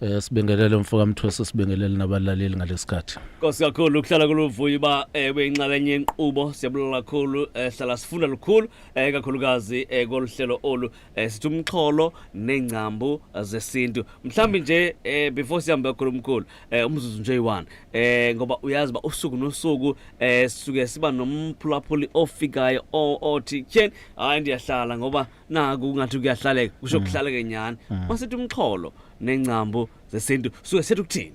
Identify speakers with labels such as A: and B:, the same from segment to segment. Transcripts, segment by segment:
A: Eh sibingelele
B: mfoka Mthosi sibingelele nabalaleli ngalesikhathi. Nkosi kakhulu ukuhlala
A: kuluvuyo uba eh uyinxalenye yenqubo siyabulala kakhulu eh hlala sifunda lukhulu eh kakhulukazi eh koluhlelo olu eh sithi umxholo nengcambu zesintu. Mhlambi nje eh before sihambe kakhulu umkhulu eh umzuzu nje uyi-1 eh ngoba uyazi ba usuku nosuku eh sisuke siba nomphulaphuli ofikayo othi tyeni hayi ndiyahlala ngoba naku ungathi kuyahlaleka kusho Mm. kuhlaleke nyhani Mm. masithi umxholo nengcambu zesintu suke sethi ukuthini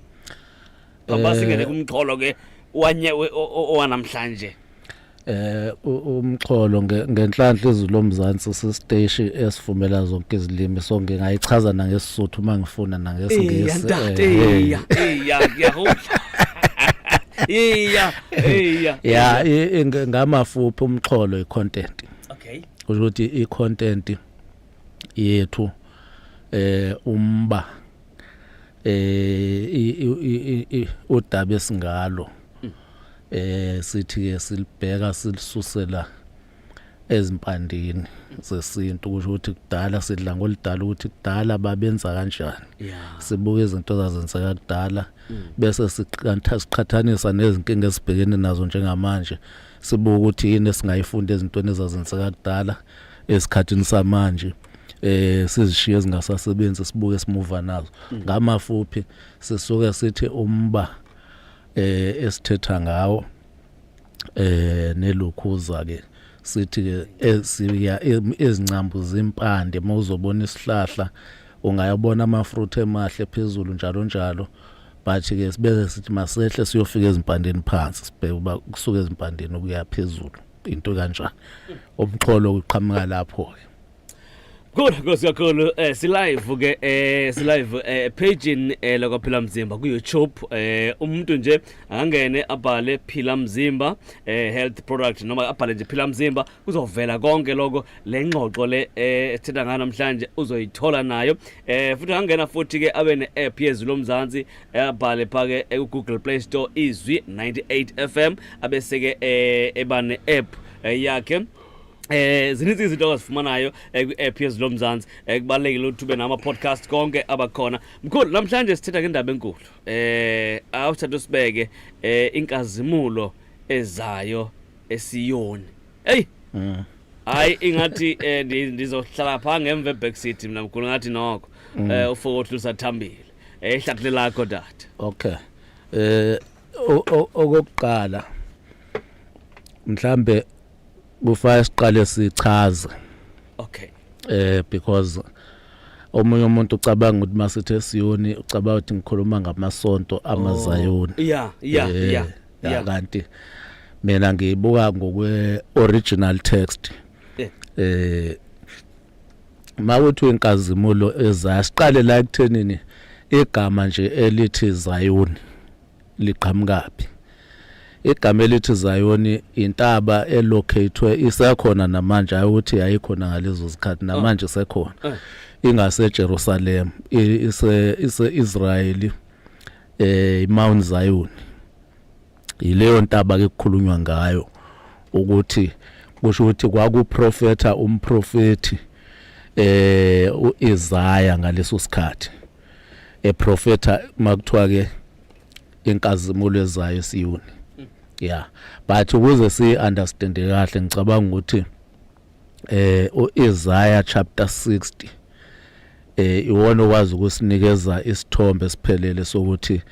A: baba Eh, singene kumxholo ke wanye we- o- o- owanamhlanje eh u- umxholo
B: nge- ngenhlanhla izulu lomzansi sisteshi esivumela zonke izilimi so ngingayichaza nangesisuthu uma ngifuna nangesiNgisi Eya, ntate, eh, eh. eya, eya, ngiyahula. Eya, eya, ya eya. i- i- ngamafuphi umxholo icontent okay kusho
A: ukuthi i
B: content yethu eh umba eh udaba esingalo mm. eh sithi ke silibheka silisusela ezimpandini zesintu kusho ukuthi kudala sidla ngolidala ukuthi kudala babenza kanjani sibuka izinto zazenzeka kudala mm. bese siqhathanisa nezinkinga esibhekene nazo njengamanje sibuka ukuthi yini esingayifunda ezintweni ezazenzeka kudala esikhathini samanje eh sizishiye ezingasasebenzi sibuke simuva nazo mm. ngamafuphi sisuke sithi umba eh esithetha ngawo eh nelukhuza ke sithi ke esiya ezincambu zimpande mawuzobona isihlahla ungayabona amafruit emahle phezulu njalo njalo but ke sibeze sithi masehle siyofika ezimpandeni phansi sibheke uba kusuka ezimpandeni ukuya phezulu into kanjani umxholo uqhamuka lapho ke Good
A: Nkosi kakhulu eh silive ke eh silive eh page eh lokho phila mzimba ku YouTube eh umuntu nje angangene abhale phila mzimba eh health product noma abhale nje phila mzimba kuzovela konke lokho le ngxoxo le eh, esithetha ngayo namhlanje uzoyithola nayo eh futhi angangena futhi ke abe ne-app yezwi lomzansi eh, abhale phake ku-google play store izwi 98 fm abese-ke eh, eba ne-app eh, yakhe Eh zininzi izinto ongazifumanayo eh, kwi-app yezwi lomzansi eh, kubalulekile ukuthi ube nama-podcast konke abakhona mkhulu namhlanje sithetha ngendaba enkulu eh awusithatha usibeke eh inkazimulo ezayo esiyoni eyi mm. hayi ingathi eh, ndizohlala phaa ngemva eback city mna mkhulu ngathi noko um mm. eh, ufokothu lusathambile ehlakuhle eh, lakho dade okay
B: eh okokuqala mhlambe kufanele siqale sichaze okay
A: eh because
B: omunye umuntu ucabanga ukuthi masithi esiyoni ucabanga ukuthi ngikhuluma ngamasonto amazayoni yeah yeah yeah
A: ya kanti
B: mina ngibuka ngokwe original text eh mawuthi inkazimulo ezasiqale la ekuthenini igama nje elithi Zion liqhamukapi igama elithi Zion intaba elocatwe isekhona namanje ayuthi yayikhona ngalezo zikhathi namanje isekhona ah. ah. ingase Jerusalem ise ise Israeli eh iMount Zion yileyo ntaba ke kukhulunywa ngayo ukuthi kusho ukuthi kwakuprofetha umprofeti eh uIsaya ngaleso sikhathi eprofetha makuthiwa ke inkazimulo ezayo eSiyoni yeah but ukuze si understand kahle ngicabanga ukuthi eh uIsaiah chapter 60 eh iwona okwazi ukusinikeza isithombe siphelele sokuthi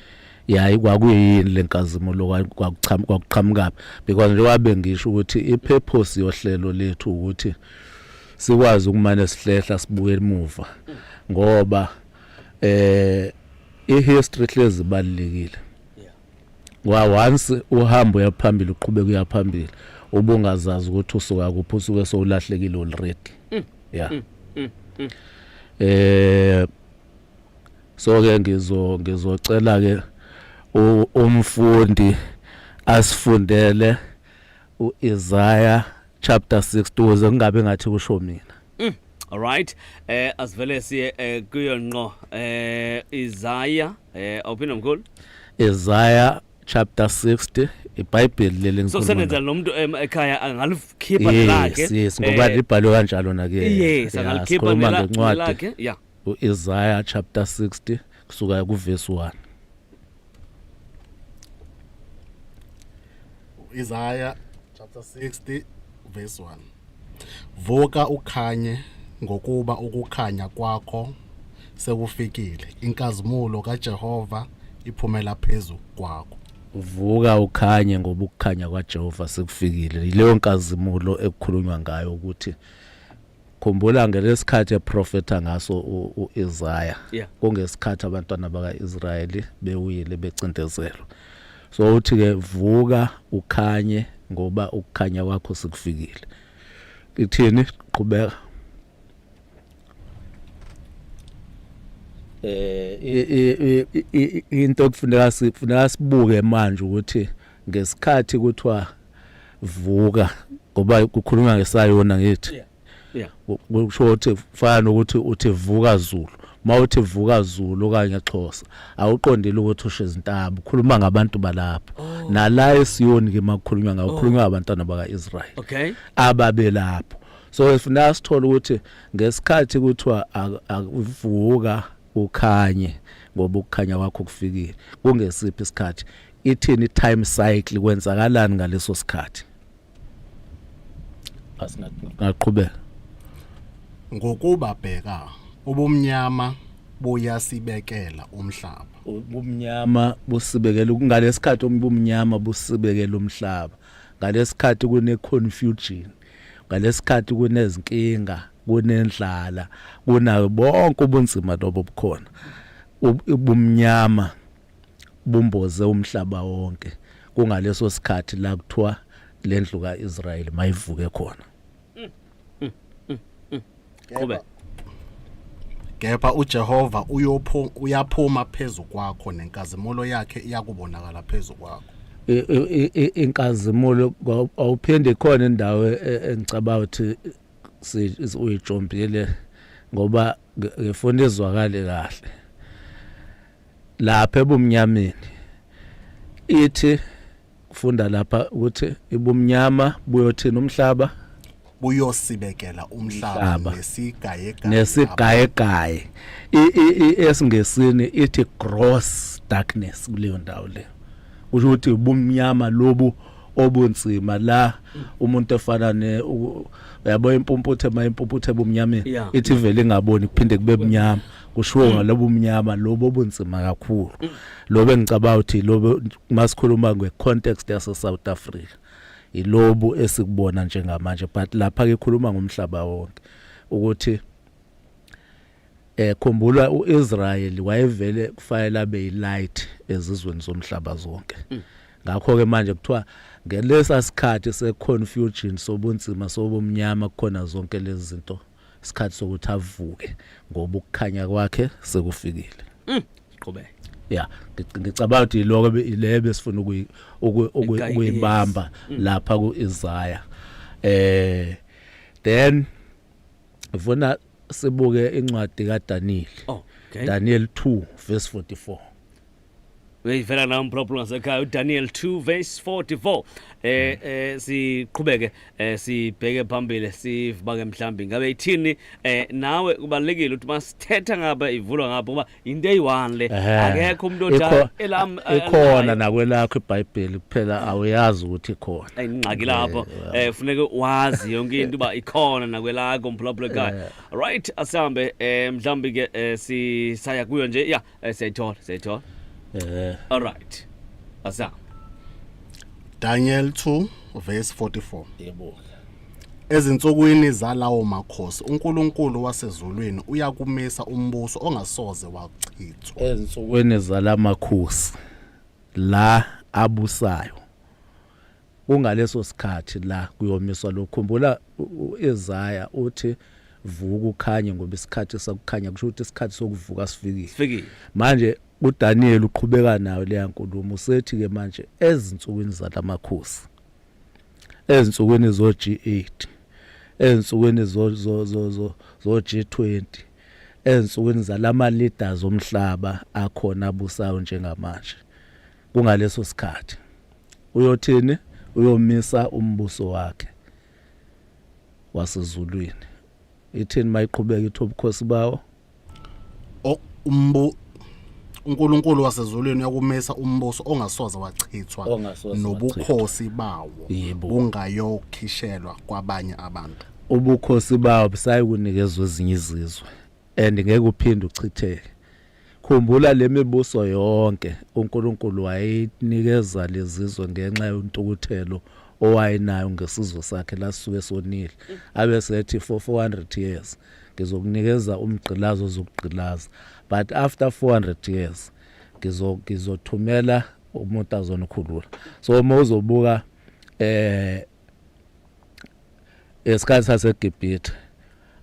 B: yayi kwakuyini lenkazimulo kwakuchama kwakuqhamuka because njengoba bengisho ukuthi ipurpose yohlelo lethu ukuthi sikwazi ukumane sihlehla sibuke emuva ngoba eh ihistory hlezi balekile wa once uhamba uyaphambili uqhubeka uyaphambili ubungazazi ukuthi usuka kuphi usuke sowulahlekile already mm. yeah mm, mm, mm. eh so ke ngizo ngizocela ke umfundi asifundele uIsaiah chapter 62 ze kungabe ngathi kusho mina mm. Alright
A: eh asivele siye eh, kuyo nqo eh Isaiah eh awuphinde mkhulu Isaiah
B: chapter 60 iBhayibheli leli ngikhuluma. So senenza nomuntu ekhaya
A: angalikhipha lakhe. Yes, yes ngoba eh, libhalwe
B: kanjalo nake. Yes, angalikhipha
A: lakhe. Yeah. uIsaiah
B: chapter 60 kusuka kuvesi
C: 1 Isaiah chapter 60 verse 1 Vuka ukhanye ngokuba ukukhanya kwakho sekufikile inkazimulo kaJehova iphumela phezulu kwakho uvuka
B: ukhanye ngoba ukukhanya kwaJehova sekufikile yileyo nkazimulo ekukhulunywa ngayo ukuthi khumbula ngelesikhathi eprofetha ngaso uIsaya yeah. kungesikhathi abantwana bakaIsrayeli bewile becindezelwa so uthi ke vuka ukhanye ngoba ukukhanya kwakho sikufikile ithini qhubeka eh into okufuneka sifuneka sibuke manje ukuthi ngesikhathi kuthiwa vuka ngoba kukhulunywa ngesayona ngithi yeah. yeah.
A: kusho ukuthi
B: kufana nokuthi uthi vuka zulu uma uthi vuka zulu okanye xhosa awuqondile ukuthi usho izintambo ukhuluma ngabantu balapho oh. nala esiyoni ke makukhulunywa ngawo ukhulunywa oh. abantwana baka-israyeli okay. ababelapho so ifuna sithole ukuthi ngesikhathi kuthiwa akuvuka ukhanye ngoba ukukhanya kwakho kufikile kungesiphi isikhathi ithini time cycle kwenzakalani ngaleso sikhathi asingaqhubeka ngokuba
C: bheka ubumnyama buyasibekela umhlaba ubumnyama
B: busibekela ngalesikhathi ubumnyama busibekela umhlaba ngalesikhathi kune confusion ngalesikhathi kunezinkinga kunendlala kunayo bonke ubunzima lobo bukhona ubumnyama bumboze umhlaba wonke kungaleso sikhathi la kuthiwa le ndlu ka-israyeli mayivuke khona qhube
C: kepha ujehova uyophu- uyaphuma phezu kwakho nenkazimulo yakhe iyakubonakala phezu kwakho I- i- i- inkazimulo
B: kwaw- awuphinde khona indawo e- e- engicabanga ukuthi si- is- uyijombile ngoba ngi- ngifuna izwakale kahle lapha ebumnyameni ithi kufunda lapha ukuthi ibumnyama buyothina umhlaba buyosibekela
C: umhlaba nesigayegaya nesigayegaya
B: esingesini ithi gross darkness kuleyo ndawo le kusho ukuthi ubumnyama lobu obunzima la umuntu efana ne uyabo impumputhe mayimpumputhe ebumnyameni ithi vele ingaboni kuphinde kube bunyama kushiwo ngalobu mnyama lobo bunzima kakhulu lobo engicabanga ukuthi lobo masikhuluma nge context yase South Africa ilobu esikubona njengamanje but lapha ke khuluma ngomhlaba wonke ukuthi eh khumbula uIsrael wayevele kufanele abe yilight ezizweni zomhlaba zonke mm. ngakho ke manje kuthiwa ngelesa sikhathi seconfusion sobunzima sobumnyama kukhona zonke lezi zinto isikhathi sokuthi avuke ngoba ukukhanya kwakhe sekufikile mm,
A: qhubeka ya
B: ngicabanga ukuthi iloko le besifuna ukuyibamba mm. lapha ku Isaiah eh then ufuna sibuke incwadi kaDaniel oh, okay. Daniel 2 verse 44
A: uyayivela nawo mphulaphula ngasekhaya udaniel 2 verse 44 eh hmm. eh siqhubeke eh sibheke phambili sivibake mhlambi ngabe ithini eh nawe kubalekile ukuthi masithetha ngaba ivulwa ngapha kuba into eyi-one le akekho umuntu odala elam eh, ikhona nakwelakho
B: ibhayibheli kuphela awuyazi ukuthi ikhona ingxaki lapho
A: eh, eh funeke wazi yonke into uba ikhona nakwelakho mphulaphula ekhaya right asihambe eh mhlambi ke eh, sisaya kuyo nje ya Eh, siyayithola siyayithola eh all right asa Daniel 2 verse 44
C: yebo Ezinsukwini zalawo makhosi uNkulunkulu wasezulwini uyakumisa umbuso ongasoze wachithwa. ezinsukwini
B: zalamakhosi la abusayo Kungaleso sikhathi la kuyomiswa lokhu. Khumbula u-Isaya uthi vuka ukhanye ngoba isikhathi sakukhanya kusho ukuthi isikhathi sokuvuka sifikile. Sifikile. Manje uDaniel uqhubeka nayo leya nkulumo usethi ke manje ezinsukwini zalamakhosi ezinsukwini zo G8 ezinsukwini zo zo zo zo G20 ezinsukwini zalama leaders omhlaba akhona abusayo njengamanje kungaleso sikhathi uyothini uyomisa umbuso wakhe wasezulwini ithini mayiqhubeka ithi ubukhosi bawo umbu
C: uNkulunkulu wasezulwini uyakumisa umbuso ongasoze wachithwa nobukhosi bawo bungayokhishelwa kwabanye abantu ubukhosi bawo
B: busayi kunikezwa ezinye izizwe and ngeke uphinde uchitheke Khumbula le mibuso yonke uNkulunkulu wayeyinikeza lezizwe ngenxa yontukuthelo owayenayo ngesizwe sakhe lasisuke sonile. Abese ethi for 400 years ngizokunikeza umgqilazi ozokugqilaza but after 400 years ngizo ngizothumela umuntu azonikhulula. So uma uzobuka eh esikhathi saseGibhithe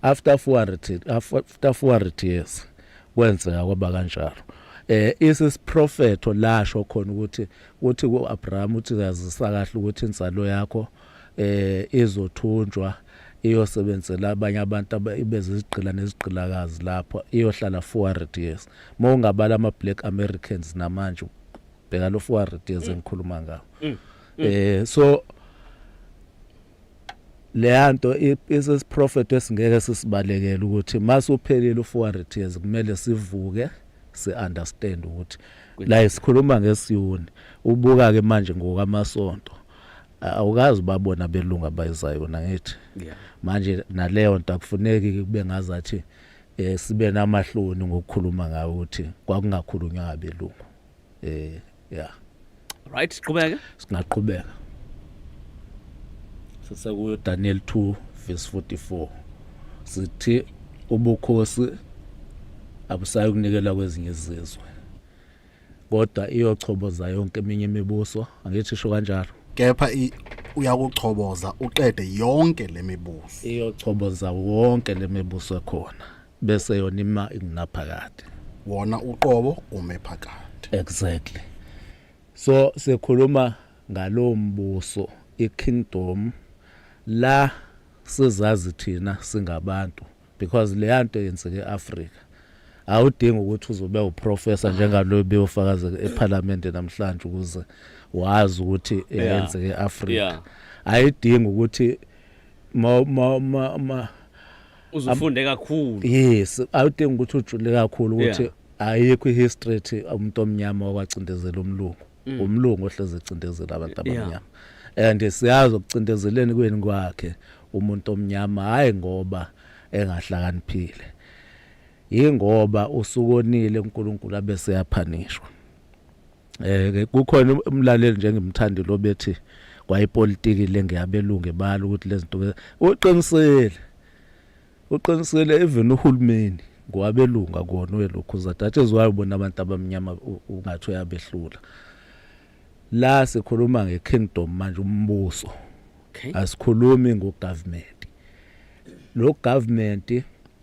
B: after 400 after 400 years kwenzeka kwaba kanjalo eh isisiprofetho lasho khona ukuthi uthi kuAbraham uthi yazisa kahle ukuthi insalo yakho eh izothunjwa iyosebenzela abanye abantu abezizigqila nezigqilakazi lapho iyohlala 400 years mawungabala ama black americans namanje bheka lo 400 years mm. engikhuluma ngawo mm. mm. eh so leyanto isisiprofeto esingeke sisibalekele ukuthi masuphelile u400 years kumele sivuke si understand ukuthi la isikhuluma ngesiyuni ubuka ke manje ngokamasonto awukazi babona belunga bayizayo na ngithi manje naleyo nto akufuneki kube ngazathi eh sibe namahloni ngokukhuluma ngawo ukuthi kwakungakhulunywa abelungu eh yeah
A: right siqhubeke singaqhubeka
B: sisekuyo Daniel 2 verse 44 sithi ubukhosi abusayi kunikela kwezinye izizwe kodwa iyochoboza yonke eminye imibuso angithi sho kanjalo kepha
C: uyakuchoboza uqede yonke lemibuso iyochoboza
B: wonke lemibuso ekhona bese yona ima ingunaphakade wona
C: uqobo ume phakade exactly
B: so sikhuluma ngalowo mbuso ikingdom la sizazi thina singabantu because leya nto yenzeke eAfrika awudingi ukuthi uzobe uprofessor njengaloyo beyofakaza eParliament namhlanje ukuze wazi ukuthi yenzeke eAfrika ayidingi ukuthi ma ma ma
A: uzufunde kakhulu yes awudingi
B: ukuthi ujule kakhulu ukuthi ayikho ihistory ethi umuntu omnyama wakwacindezela umlungu mm. umlungu ohleze ecindezela abantu abamnyama and siyazi ukucindezeleni kweni kwakhe umuntu omnyama hayi ngoba engahlakaniphile yingoba usukonile uNkulunkulu abese yaphanishwa Eh kukhona umlaleli nje ngimthandi lo bethi kwayipolitiki le ngiyabelungu ebala ukuthi lezinto uqinisile uqinisile even uhulumeni ngwabelunga kona welokhu zadathe zwayo bona abantu abamnyama ungathi uyabehlula la sikhuluma ngekingdom manje umbuso asikhulumi ngogovernment lo government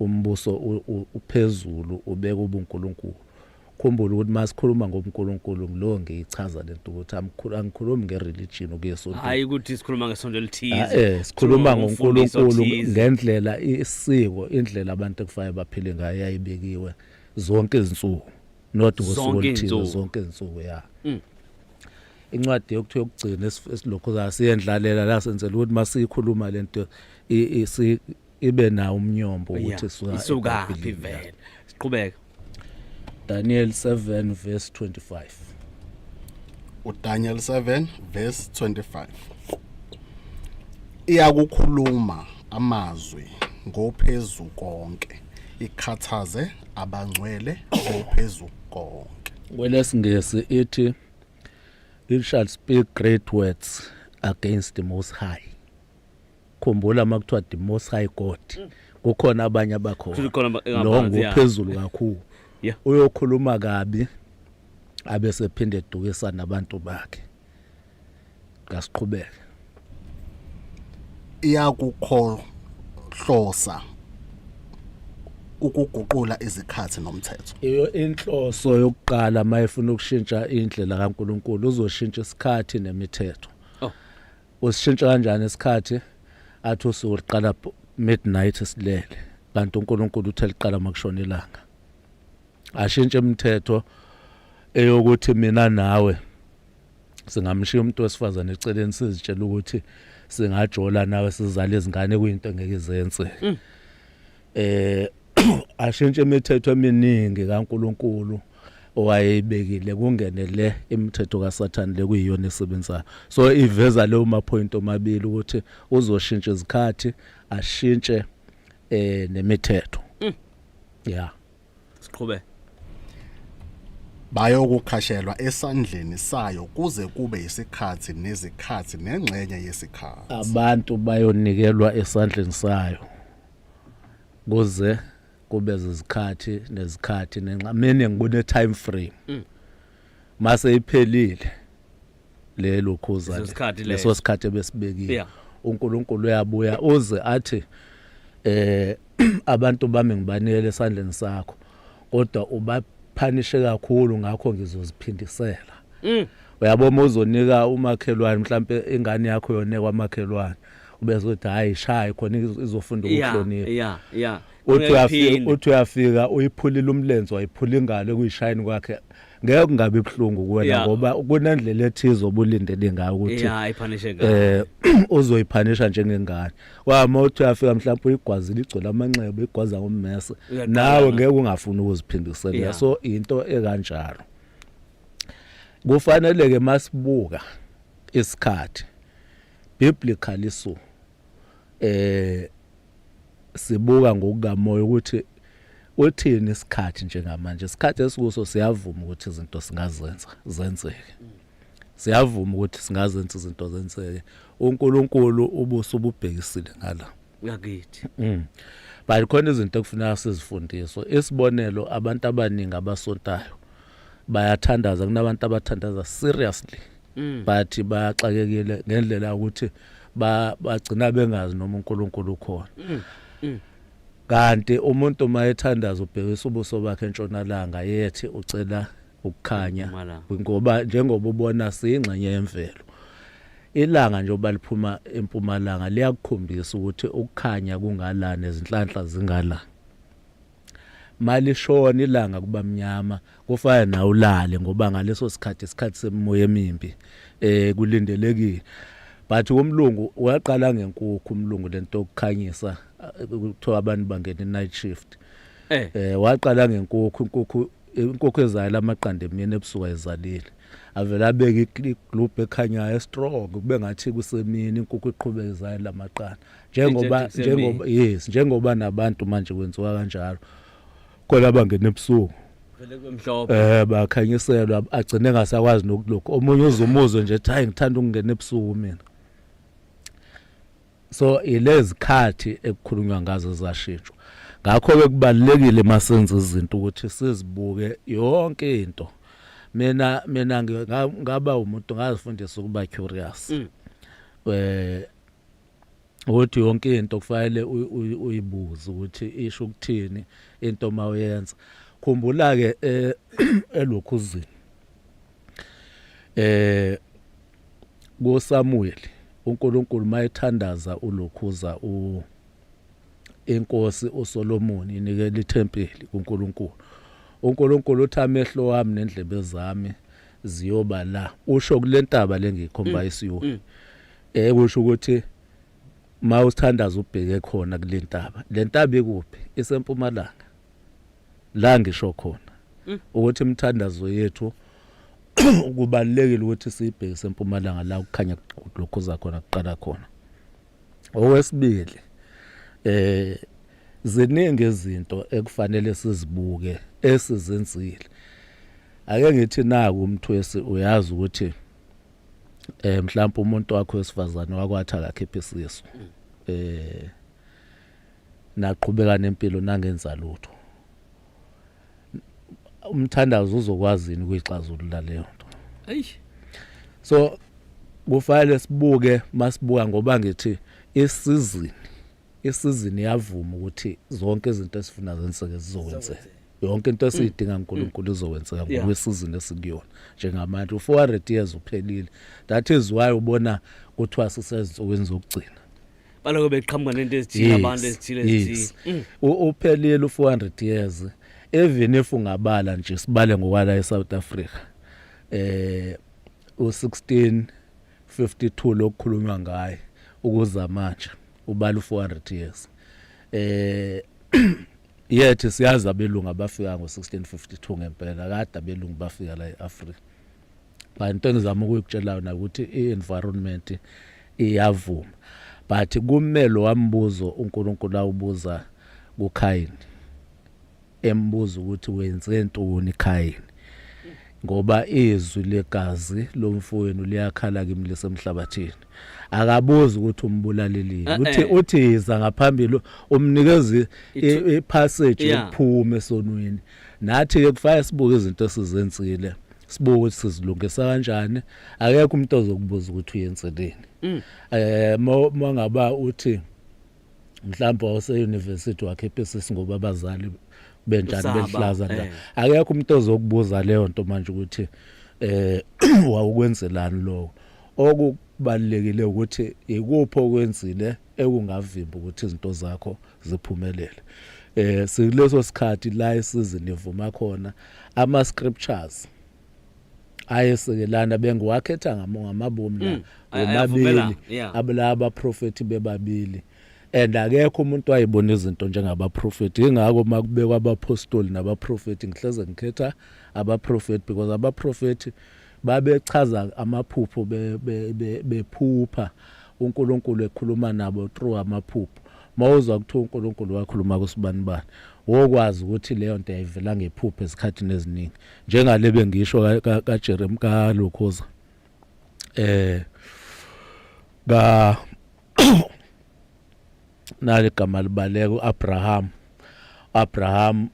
B: Umbuso uphezulu ubeka ubunkulunkulu. Khumbula ukuthi masikhuluma ngobunkulunkulu ngilowo ngiyichaza lento ukuthi angikhulumi ngereligion okuyesonto. Hayi ukuthi sikhuluma
A: ngesonto elithize. Ah, eh sikhuluma ngoNkulunkulu
B: ngendlela isiko indlela abantu ekufanele baphile ngayo yayibekiwe zonke izinsuku. Not ngosuku oluthize zonke izinsuku ya. Mm. incwadi yokuthiwa yokugcina esilokhu sasiyendlalela la senzela ukuthi masiyikhuluma lento ibe nawo umnyombo ukuthi suka isuka phi
A: vele siqhubeka
B: Daniel 7 verse 25 uDaniel
C: 7 verse 25 iyakukhuluma amazwi ngophezu konke ikhathaze abangcwele ngophezu konke kwelesingesi
B: ithi it shall speak great words against the most high khumbula uma kuthiwa the most high god mm. kukhona abanye abakhona lo ngophezulu kakhulu uyokhuluma kabi abe sephinde edukisa nabantu bakhe ngasiqhubeke
C: iyakukhohlosa ukuguqula izikhathi nomthetho iyo inhloso
B: yokuqala mayefuna ukushintsha indlela kaNkuluNkulu uzoshintsha isikhathi nemithetho Usishintsha kanjani isikhathi? Athi usuku liqala midnight silele kanti uNkulunkulu uthe liqala makushona ilanga. Ashintshe imithetho eyokuthi mina nawe singamshiya umuntu wesifazane eceleni sizitshela ukuthi singajola nawe sizale izingane kuyinto engeke izenze. Mm. eh ashintshe imithetho eminingi kaNkuluNkulu owayeyibekile kungene le imithetho kaSathane lekuyiyona esebenzayo so iveza leyo ma point omabili ukuthi uzoshintsha izikhathi ashintshe eh nemithetho mm. yeah siqhubeke
C: bayokukhashelwa esandleni sayo kuze kube isikhathi nezikhathi nengxenye yesikhathi abantu
B: bayonikelwa esandleni sayo kuze kube zizikhathi nezikhathi nenxa mina ngibone time frame mm. mase iphelile lelo khuza leso sikhathi ebesibekile uNkulunkulu uyabuya uze athi eh abantu bami ngibanele esandleni sakho kodwa ubaphanishe kakhulu ngakho ngizoziphindisela mm. uyabona uzonika umakhelwane mhlambe ingane yakho yone kwamakhelwane ubezothi hayi shayi khona izofunda ukuhlonipha yeah yeah uthi uyafika
A: uthi
B: uyafika uyiphulile umlenze wayiphula ingalo ekuyishayini kwakhe ngeke kungabe ibhlungu kuwena ngoba kunendlela ethize obulindele ngayo ukuthi yeah iphanishe ngayo
A: eh uzoyiphanisha
B: njengengane wama uthi uyafika mhlawumbe uyigwazi ligcola amanxeba igwaza ngommese nawe ngeke ungafuni ukuziphindisela so into ekanjalo kufanele ke masibuka isikhathi Biblically so eh sibuka ngokukamoya ukuthi uthini isikhathi njengamanje isikhathi esikuso siyavuma ukuthi izinto singazenza zenzeke siyavuma ukuthi singazenza izinto zenzeke uNkulunkulu ubuso ububhekisile ngala ngakithi
A: mm. but
B: khona izinto ekufuneka sizifundiswe isibonelo abantu abaningi abasontayo bayathandaza kunabantu abathandaza seriously mm. but baxakekile ngendlela ukuthi bagcina bengazi noma uNkulunkulu ukhona mm, mm. kanti umuntu uma ethandaza ubhekisa ubuso bakhe entshonalanga yethi ucela ukukhanya ngoba njengoba ubona singxenye yemvelo ilanga nje oba liphuma empumalanga liyakukhombisa ukuthi ukukhanya kungalana izinhlanhla zingalana malishona ilanga kuba mnyama kufana nawe ulale ngoba ngaleso sikhathi isikhathi semimoya emimbi eh kulindelekile but umlungu uyaqala ngenkukhu umlungu lento yokukhanyisa eh, kuthiwa abantu bangena night shift eh, eh waqala ngenkukhu inkukhu inkokho ezayo lamaqanda emini ebusuku ayizalile avele abeke iglobe ekhanyayo strong kube ngathi kusemini inkukhu iqhubeka izayo lamaqanda njengoba njengoba yes njengoba nabantu manje kwenziwa kanjalo khona abangena ebusuku vele kwemhlophe
A: eh bakhanyiselwa
B: agcine ngasakwazi nokulokho omunye uzumuzo nje ethi hayi ngithanda ukungena ebusuku mina so ilezikhathi ekukhulunywa ngazo zashintshwa ngakho ke kubalekile masenza izinto ukuthi sizibuke yonke into mina mina ngaba umuntu ngazifundisa ukuba curious mm. eh ukuthi yonke into kufanele uyibuze ukuthi isho ukuthini into mawuyenza khumbula ke eh, elokhuzini eh kuSamuweli uNkulunkulu mayethandaza ulokhuza u inkosi uSolomon inikele ithempeli kuNkulunkulu uNkulunkulu uthi amehlo wami nendlebe zami ziyoba la usho kulentaba lengikhomba mm, isiwe mm. eh kusho ukuthi mawuthandaza ubheke khona kulentaba lentaba ikuphi isempumalanga la ngisho khona mm. ukuthi imithandazo yethu kubalekile ukuthi sibheke sempumalanga la ukukhanya lokho zakhona kuqala khona owesibili eh ziningi izinto ekufanele sizibuke esizenzile ake ngithi naku umthwesi uyazi ukuthi eh mhlawumbe umuntu wakho wesifazane wakwatha akakhiphe isisu eh naqhubeka nempilo nangenza lutho umthandazo uzokwazi yini kuyixazulula leyo nto
A: eish so
B: kufanele sibuke masibuka ngoba ngithi isizini isizini yavuma ukuthi zonke izinto esifuna zenzeke zizokwenzeka yonke into esiyidinga mm. uNkulunkulu mm. izokwenzeka ngokwesizini esikuyona njengamanje u400 years uphelile that is why ubona kuthiwa sisezinsukwini zokugcina baloko beqhamuka
A: nento ezithile abantu ezithile ezithile mm. uphelile
B: u400 years even if ungabala nje sibale ngokwala eSouth Africa eh u16 52 lokukhulunywa ngaye ukuza manje ubala u400 years eh yethi siyazi abelungu abafika ngo1652 ngempela kade abelungu bafika la eAfrica but into engizama ukuyikutshelayo nakuthi i-environment iyavuma but kume lo wambuzo uNkulunkulu awubuza kuKhayini embuza ukuthi wenze ntoni Khayini ngoba izwi legazi lomfowenu liyakhala kimi lesemhlabathini akabuzi ukuthi umbulalelini eh, uthi eh. uthiza ngaphambili umnikeza ipassage yokuphuma esonweni Nathi-ke kufanele sibuke izinto esizenzile sibuke ukuthi sizilungisa kanjani akekho umuntu ozokubuza ukuthi uyenzeleni um uma ngaba uthi mhlawumbe wawuseyunivesithi wakhipha isisi ngoba abazali benjani belihlaza la eh. akekho umuntu ozokubuza leyo nto manje ukuthi eh wawukwenzelani lokho okubalekile ukuthi ikuphi okwenzile ekungavimba ukuthi izinto zakho ziphumelele eh sileso sikhathi la isizini ivuma khona ama scriptures ayesekelana bengiwakhetha ngamabomu la mm, womabili abulaba prophet bebabili and akekho umuntu wayibona izinto njengabaprofeti ingakho uma kubekwa abaphostoli nabaprofeti ngihleze ngikhetha abaprofeti because abaprofeti Babechaza amaphupho bephupha uNkulunkulu ekhuluma nabo through amaphupho. Mawuzwa kuthiwa uNkulunkulu wakhuluma kusibani bani. Wokwazi ukuthi leyo nto yayivela ngephupho esikhathini eziningi. Njengale bengisho ka ka Jeremy ka Lokhoza. Eh ka nali gama libaleka uAbraham Abraham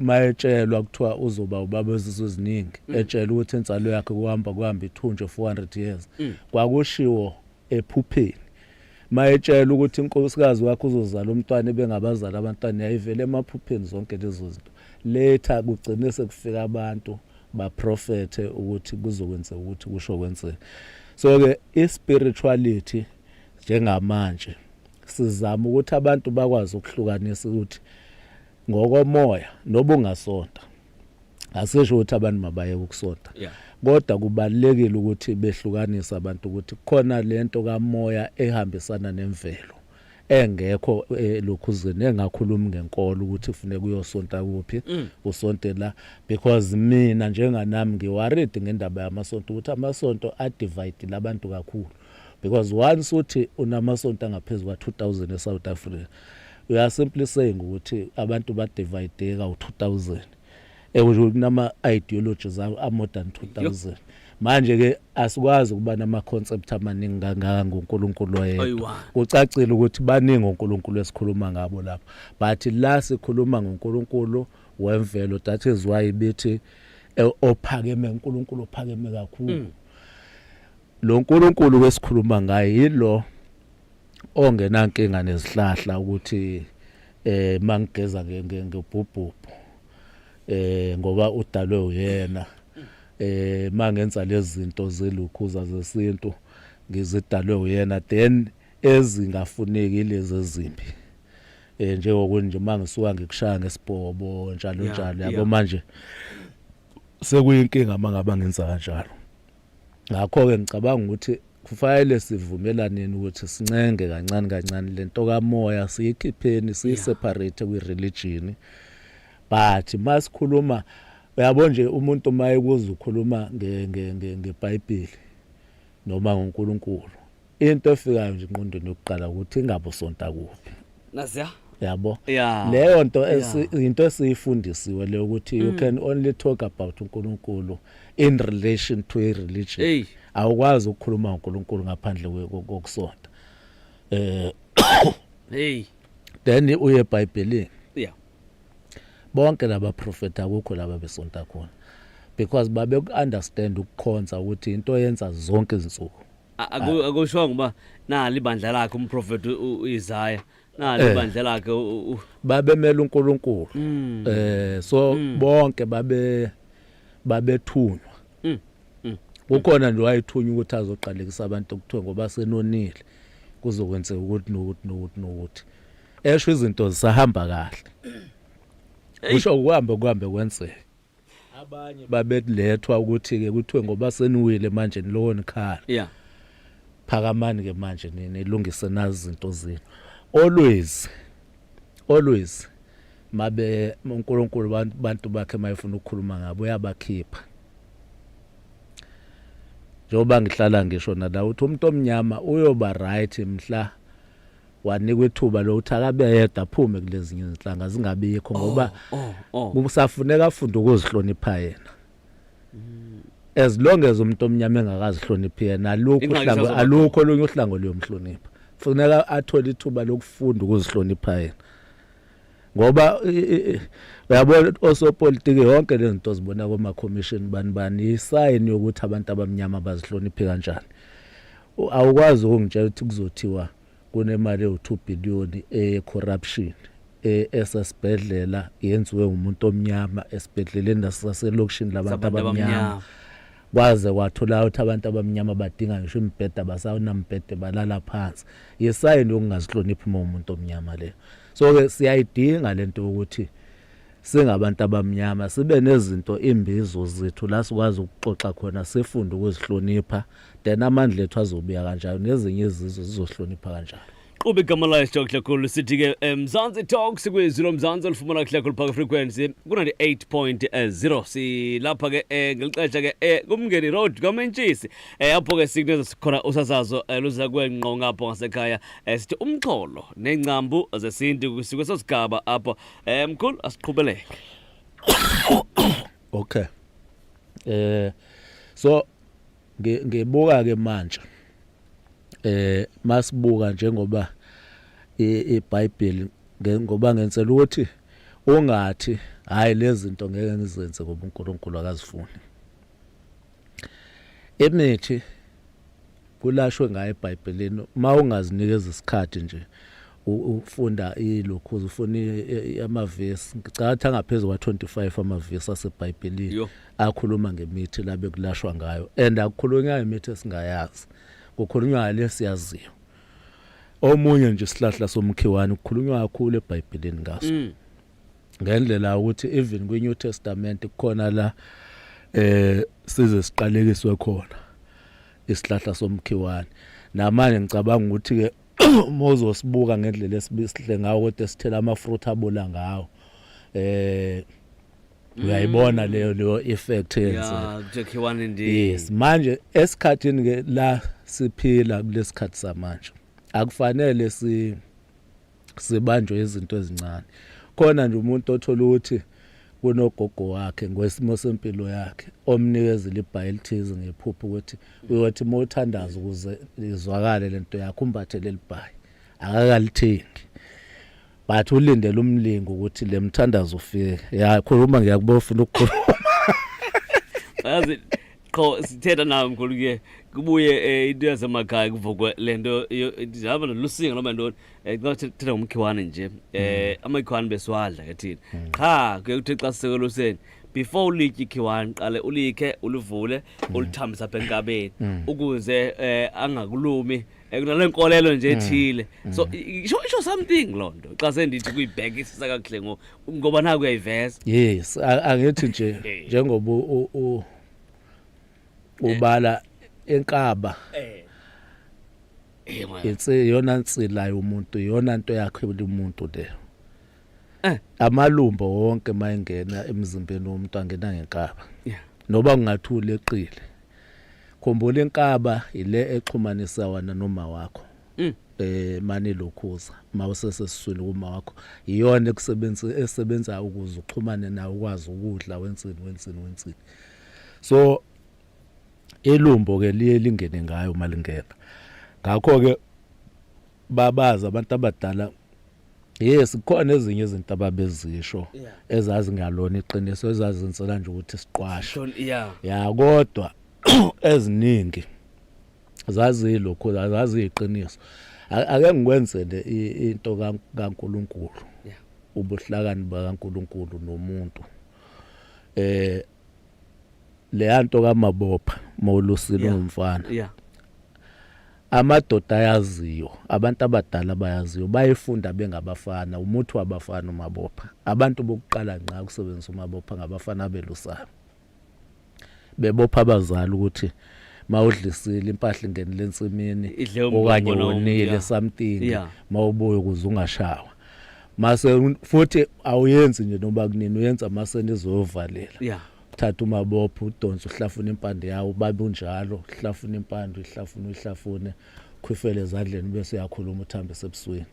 B: mayetshelwa kuthiwa uzoba ubaba wezizwe eziningi mm. etshela ukuthi insalo yakhe kuhamba kuhamba ithunje 400 years mm. kwakushiwo ephupheni mayetshela ukuthi inkosikazi wakhe uzozala umntwana ebengabazali abantwana yayivele emaphupheni zonke lezo zinto Later kugcine sekufika abantu baprofethe ukuthi kuzokwenzeka ukuthi kusho kwenzeka. So ke ispirituality njengamanje sizama ukuthi abantu bakwazi ukuhlukanisa ukuthi ngokomoya nobungasonta asisho ukuthi abantu mabayeke ukusonta yeah. kodwa kubalekile ukuthi behlukanise abantu ukuthi khona lento kamoya ehambisana nemvelo engekho elokhuzweni eh, engakhulumi ngenkolo ukuthi kufuneka uyosonta kuphi mm. usonte la because mina njenganami ngiworried ngendaba yamasonto ukuthi amasonto adivide labantu kakhulu because once uthi unamasonto angaphezulu kwa-2000 e-south africa we are simply saying ukuthi abantu badivayideka u-2000 Ekusho ukuthi kunama ideology zawo a modern 2000. Manje ke asikwazi ukuba nama concept amaningi kangaka ngoNkulunkulu oyedwa. Ayiwa. Kucacile ukuthi baningi oNkulunkulu esikhuluma ngabo lapha. But la sikhuluma ngoNkulunkulu wemvelo that is why bithi eh, ophakeme uNkulunkulu ophakeme kakhulu. Lo Nkulunkulu wesikhuluma ngaye yilo ongenankinga nezihlahla ukuthi eh mangigeza nge- nge- ngebhubhubhu eh ngoba udalwe uyena eh mangenza lezinto zelukhuza zesintu ngizidalwe uyena then ezingafuneki lezi ezimbi eh njengokunje mangisuka ngikushaya ngesibhobo njalo njalo yabo manje sekuyinkinga mangaba ngenza kanjalo Ngakho-ke ngicabanga ukuthi kufanele sivumelaneni ukuthi sincenge kancane kancane le nto kamoya siyikhipheni siyiseparate kwi-religion but uma sikhuluma uyabo nje umuntu uma ekuza ukhuluma ngebhayibheli noma ngonkulunkulu into efikayo nje engqondweni yokuqala ukuthi ingabe usonta kuphi naziya
A: yabo
B: leyo nto into esiyifundisiwe leyo ukuthi you mm. can only talk about uNkulunkulu in relation to a religion awukwazi ukukhuluma ngoNkulunkulu ngaphandle kokusonta eh hey then uye eBhayibhelini yeah bonke laba prophet akukho laba besonta khona because babe ku understand ukukhonza ukuthi into yenza zonke izinsuku A- aku- akushongo
A: uba nali ibandla lakhe umprofethi u- uisaya nali Eh. ibandla lakhe u- u- babemela
B: uNkulunkulu Mm. eh so Mm. bonke babe babethunywa Mm. Mm. kukhona nje wayethunywa ukuthi azoqalekisa abantu okuthiwa ngoba senonile kuzokwenzeka ukuthi nokuthi nokuthi nokuthi esho izinto zisahamba kahle Eyi. usho ukuhambe kuhambe kwenzeka abanye babelethwa ukuthi ke kuthiwe ngoba seniwile manje nilowo nikhala yeah phakamani ke manje nilungise nazi izinto zenu always always mabe uNkulunkulu abantu bakhe mayefuna ukukhuluma ngabo uyabakhipha njengoba ngihlala ngisho nala uthi umuntu omnyama uyoba right mhla wanikwa ithuba lokuthi akabe yedwa aphume kulezinye izinhlanga zingabikho oh, ngoba oh, oh. kusafuneka afunde ukuzihlonipha yena mm. as long as umuntu omnyama engakazihloniphi yena alukho uhlango alukho olunye uhlango luyomhlonipha funeka athole ithuba lokufunda ukuzihlonipha yena ngoba uyabona osopolitiki yonke le zinto zibona komakhomishini bani bani yisayini yokuthi abantu abamnyama bazihloniphe kanjani awukwazi ukungitshela ukuthi kuzothiwa kunemali ewu-2 billion eyecorruption e, esesibhedlela yenziwe umuntu omnyama esibhedleleni nasaselokishini labantu abamnyama Kwaze kwathula ukuthi abantu abamnyama badinga ngisho imibhede abasawunambhede balala phansi. Yisayini yokungazihloniphi uma umuntu omnyama leyo. So ke siyayidinga lento yokuthi singabantu abamnyama sibe nezinto imbizo zethu la sikwazi ukuxoxa khona sifunde ukuzihlonipha then amandla ethu azobuya kanjalo nezinye izizwe zizohlonipha kanjalo. qhuba igama layo sithoka
A: kuhle khulu sithi ke eh, mzansi talks kwizwi lomzansi olifumana kuhle khulu phaka frequency ku-98.0 silapha ke um ngeli xesha ke um kumngeni road kwamentshisi um apho ke sikuneza sikhona usasazo um luza kwengqo ngapho ngasekhaya um sithi umxholo neencambu zesintu sikweso sigaba apho um mkhulu asiqhubeleke
B: okay eh so ngebuka ke manje eh masibuka njengoba iBhayibheli ngoba ngenzela ukuthi ungathi hayi lezinto ngeke ngizenze ngoba uNkulunkulu akazifuni imithi kulashwe ngayo eBhayibhelini uma ungazinikeza isikhathi nje ufunda ilokhu ufuna amavesi ngicatha ngaphezulu kwa 25 amavesi aseBhayibhelini akhuluma ngemithi la bekulashwa ngayo and akukhulunywa ngemithi esingayazi kukhulunywa ngale siyaziyo omunye nje isihlahla somkhiwane kukhulunywa kakhulu ebhayibhelini ngaso mm. ngendlela ukuthi even kwi New Testament kukhona la eh size siqalekiswe khona isihlahla somkhiwane namanje ngicabanga ukuthi ke uma uzosibuka ngendlela esibisihle ngawo kodwa sithela amafruit abola ngawo eh uyayibona leyo leyo effect yenzeka kuthiwani ndi yes manje esikhathini ke la siphila kulesikhathi samanje akufanele si sibanjwe izinto ezincane khona nje umuntu othola ukuthi kunogogo wakhe ngwesimo sempilo yakhe omnikeza libhayi elithize ngephupho ukuthi uyothi uma uthandaza ukuze izwakale lento yakho umbathe leli bhayi akakalithindi but ulindele umlingo ukuthi le mthandazo ufike ya khuluma ngiyakuba ufuna ukukhuluma
A: yazi qho sithetha nawe mkhulu ke kubuye eh, into yasemakhaya kuvukwe lento hamba nolusinga noma ntoni eh, xa thetha ngomkhiwane nje eh mm. amakhiwane besiwadla ke thina mm. qha kuye kuthi xa sisekeluseni before ulitye ikhiwane qale ulikhe ulivule mm. ulithambisa apha enkabeni ukuze eh, angakulumi ekunale nkolelo nje ethile so i- isho isho something lo nto xa sendithi kuyibhekisisa kakuhle ngo- ngoba naku uyayiveza yes a-
B: angithi nje Eh. njengoba u- u- ubala enkaba Eh, mwana. insi yona nsilayo umuntu yona nto yakhe umuntu leyo Eh. amalumbo wonke mayengena emzimbeni womuntu angena ngenkaba Yeah. noba kungathula eqile khumbula inkaba ile exhumanisa wena noma wakho Mm. eh mani lokhuza mawusesesiswini kuma wakho iyona ekusebenza esebenza ukuze uxhumane nawe ukwazi ukudla wensini wensini wensini so elumbo ke liye lingene ngayo malingena ngakho ke babazi abantu abadala yes khona ezinye izinto ababezisho ezazi ngalona iqiniso ezazinsela nje ukuthi siqwasho ya kodwa eziningi zazilokho zaziyiqiniso ake ngikwenze nje into kaNkuluNkulu ubuhlakani bakaNkuluNkulu nomuntu eh leyanto kamabopha mawulusile umfana Amadoda ayaziyo, abantu abadala bayaziyo, bayefunda bengabafana, umuthi wabafana umabopha. Abantu bokuqala ngqa ukusebenzisa umabopha ngabafana abelusayo. Bebopha abazali ukuthi mawudlisile impahla ingenile ensimini okanye wonile something mawubuye ukuze ungashawa. Mase futhi awuyenzi nje noba kunini uyenza mase nizovalela. thatha umabopho udonse uhlafuna impande yawo babe unjalo uhlafuna impande uyihlafuna uyihlafune khwifele ezandleni bese uyakhuluma uthambise ebusweni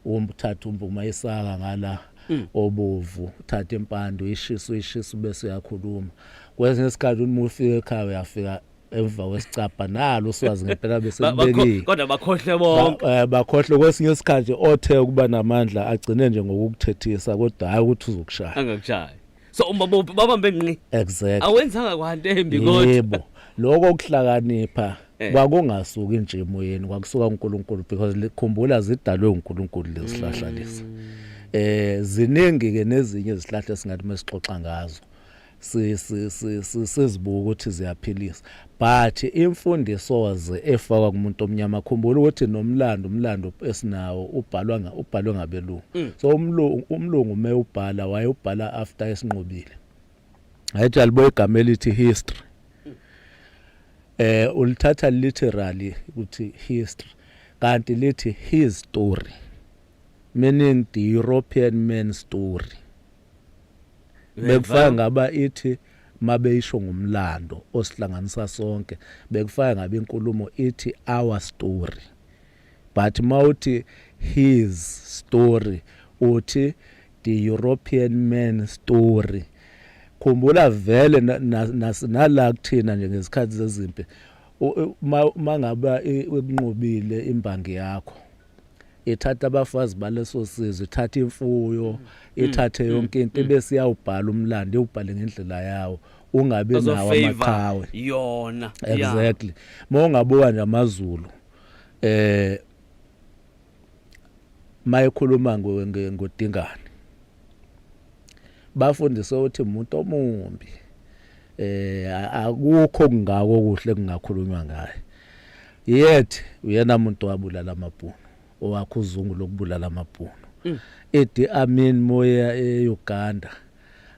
B: umthatha umbuma isaka ngala mm. obovu uthatha impande uyishisa uyishisa bese uyakhuluma kwesinye isikhathi uma ufika ekhaya uyafika emva kwesicabha nalo uswazi ngempela bese kubekile kodwa bakhohle
A: bonke eh, bakhohle kwesinye
B: isikhathi othe ukuba namandla agcine nje ngokukuthethisa kodwa hayi ukuthi uzokushaya angakushaya so
A: umbabophi babambe ngqi exactly awenzanga
B: kwanto
A: embi kodwa yebo lokho
B: ukuhlakanipha eh. kwakungasuki nje emoyeni kwakusuka uNkulunkulu because likhumbula zidalwe uNkulunkulu lezihlahla mm. lezi eh ziningi ke nezinye izihlahla esingathi mesixoxa ngazo sizibuka ukuthi ziyaphilisa But imfundisoze efakwa kumuntu omnyama khumbula ukuthi nomlando umlando esinawo ubhalwa nga ubhalwe ngabelungu. Mm. So umlungu umlungu me ubhala waye ubhala after esinqobile. Hayithi alibo igama elithi history. Mm. Eh ulithatha literally ukuthi history kanti lithi his story meaning the European man story. bekufaka ngaba ithi mabeyisho ngomlando osihlanganisa sonke bekufaka ngabe inkulumo ithi our story but mawuthi his story uthi the European man story khumbula vele nala kuthina nje ngezikhathi zezimpi mangaba ikunqobile imbangi yakho ithatha abafazi baleso sizwe ithatha imfuyo mm. ithathe mm. yonke into mm. bese iyawubhala umlando iwubhale ngendlela yawo ungabi nawo amaqhawe yona
A: exactly
B: uma ungabuka nje amazulu eh mayekhuluma ngodingane bafundiswe ukuthi umuntu omumbi eh akukho kungako kuhle kungakhulunywa ngaye yet uyena muntu wabulala amabhunu owakho uzungu lokubulala amabhunu mm. idi amin moya eUganda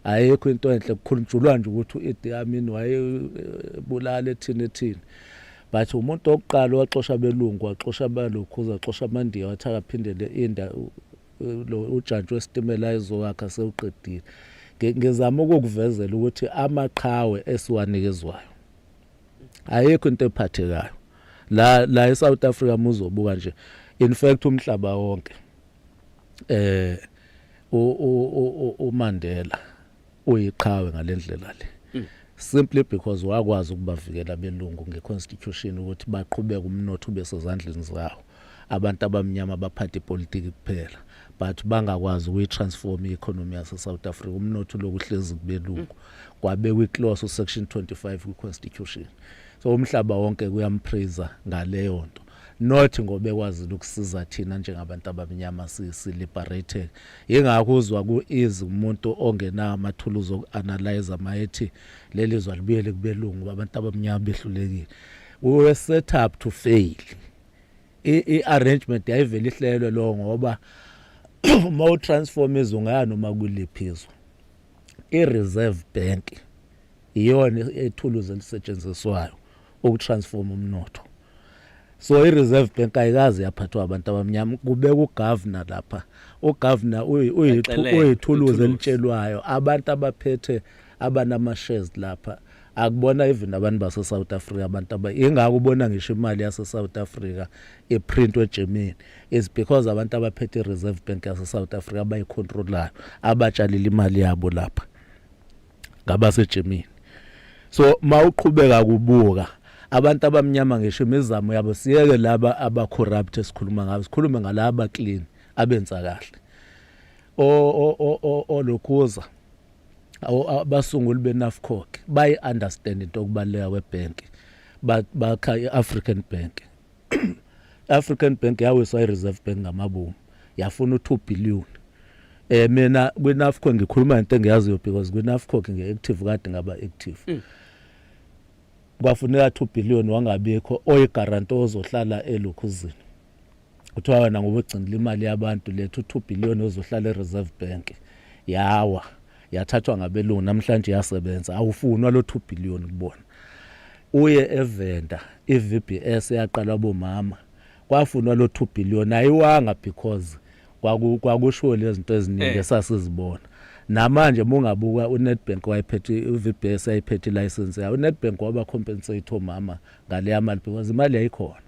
B: ayikho into enhle kukhulujulwa nje ukuthi uidi amin wayebulala ethini ethini but umuntu okuqala waxosha belungu waxosha balokhu uzaxosha amandiya wathi akaphindele inda lo ujantshi wesitimela ezowakha sewuqedile ngizama ukukuvezela ukuthi amaqhawe esiwanikezwayo ayikho into ephathekayo la la eSouth Africa muzobuka nje in fact umhlaba wonke eh uMandela uyiqhawe ngalendlela le mm. simply because wakwazi ukubavikela belungu ngeconstitution ukuthi baqhubeke umnotho ube sezandleni zawo abantu abamnyama baphathe ipolitiki kuphela but bangakwazi ukuyitransform i-economy yase-south africa umnotho uloku uhlezi kubelungu mm. kwabekwa iclose usection 25 kwi-constitution so umhlaba wonke kuyampraiser ngaleyo nto not ngoba ekwazile ukusiza thina njengabantu abamnyama si-liberated yingakho uzwa ku-easy umuntu ongenawo amathuluzi oku-analyze mayethi leli zwa libuyele kubelungu uba abantu abamnyama behlulekile we were set up to fail i-arrangement yayivele ihlelwe lo ngoba uma utransform izwe ungaya noma kuliphi izwe i-reserve bank iyona ethuluzi elisetshenziswayo ukutransforma umnotho so i-reserve bank ayikazi yaphathwa abantu abamnyama kubeka ugavana lapha ugavana uyithuluzi elitshelwayo abantu abaphethe abanama-shares lapha akubona even abantu base-south africa abantu ingako ubona ngisho imali yase-south africa iprintwe egermany is because abantu abaphethe i-reserve bank yase-south africa abayikhontrolayo abatshalile imali yabo lapha ngabasejimini so mawuqhubeka kubuka abantu abamnyama ngisho imizamo yabo siyeke laba aba corrupt esikhuluma ngabo sikhulume ngalaba clean abenza kahle o o o olokhuza abasunguli benafcoc bayi understand into okubaleka kwebank bakha iAfrican Bank African Bank yawiswa iReserve Bank ngamabomu yafuna u2 billion eh mina kwiNafco ngikhuluma into engiyaziyo because kwiNafco ngiactive kade ngaba active mm. kwafuneka 2 billion wangabikho oyigaranto ozohlala elukhuzini kuthiwa wena ngoba ugcinile imali yabantu lethu 2 billion ozohlala eReserve Bank yawa yathathwa ngabelungu namhlanje yasebenza awufunwa lo 2 billion kubona Uye eVenda iVBS eyaqalwa bomama kwafunwa lo 2 billion ayiwanga because kwaku kwakushiwo lezinto eziningi eh. esasizibona namanje mungabuka uNetbank wayephethe uVBS ayiphethe license yayo uNetbank waba compensate omama ngaleya mali because imali yayikhona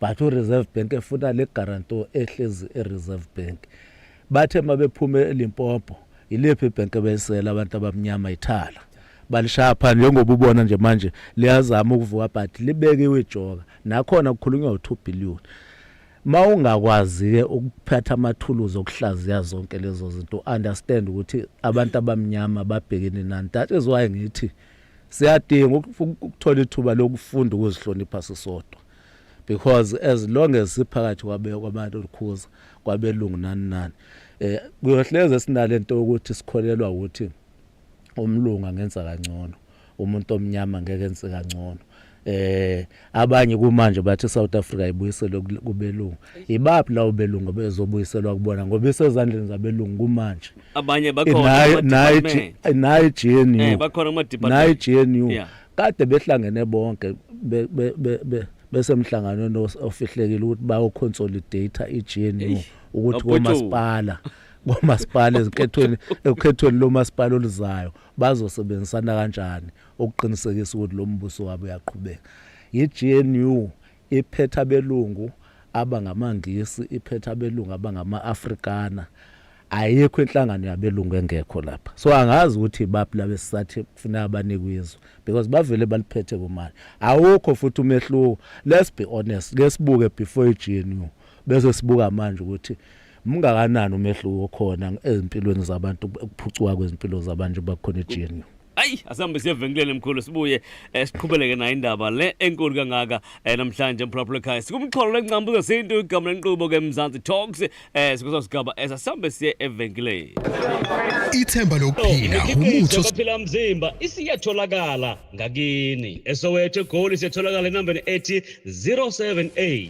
B: but uReserve Bank efuna le guarantor ehlezi eReserve Bank Bathe mabephume eLimpopo yiliphi ibhenki ebesela abantu abamnyama ithala balishaya phansi njengoba ubona nje manje liyazama ukuvuka but libekiwe ijoka nakhona kukhulunywa u2 billion mawungakwazi-ke ukuphatha amathuluzi okuhlaziya zonke lezo zinto understand ukuthi abantu abamnyama babhekene nani that is why ngithi siyadinga ukuthola ithuba lokufunda ukuzihlonipha sisodwa because as long as siphakathi kwabantu olukhuza kwabelungu nani nani eh kuyohleze esinalento yokuthi sikholelwa ukuthi umlunga ngenza kangcono umuntu omnyama ngeke enze kangcono eh abanye kumanje bathi South Africa ibuyiselwe kubelungu ibaphi lawo belungu bezobuyiselwa kubona ngoba isezandleni zabelungu kumanje abanye bakhona
A: nayi nayi
B: GNU eh bakhona kuma department nayi
A: GNU yeah.
B: kade behlangene bonke besemhlanganweni ofihlekile ukuthi bayoconsolidate iGNU ukuthi komasipala komasipala ezinkethweni ekukhethweni lomasipala oluzayo bazosebenzisana kanjani ukuqinisekisa ukuthi lo mbuso wabo uyaqhubeka yiGNU Iphethe abelungu abangamaNgisi, iphethe abelungu abangama-Afrikana. Ayikho inhlangano yabelungu engekho lapha. So angazi ukuthi baphi laba esisathi kufuneka banikwe izwe because bavele baliphethe kumanje. Awukho futhi umehluko. Let's be honest. Ke sibuke before iGNU bese sibuka manje ukuthi Mngakanani umehluko okhona ezimpilweni zabantu ukuphucuka kwezimpilo zabantu bakhona eGNU? ayi asihambe
A: siyevenkileni mkhulu sibuye eh, siqhubeleke nayo indaba le enkulu kangaka eh, namhlanje emphulaphula ekhaya sikumxholo lenqambu zesintu igama lenqubo ke mzansi talks eh, sikuso sigaba esasihambe siye evenkileni
D: ithemba lokuphila umutho baphila mzimba
A: isiyatholakala ngakini esowethu egoli siyatholakala enambeni ethi 078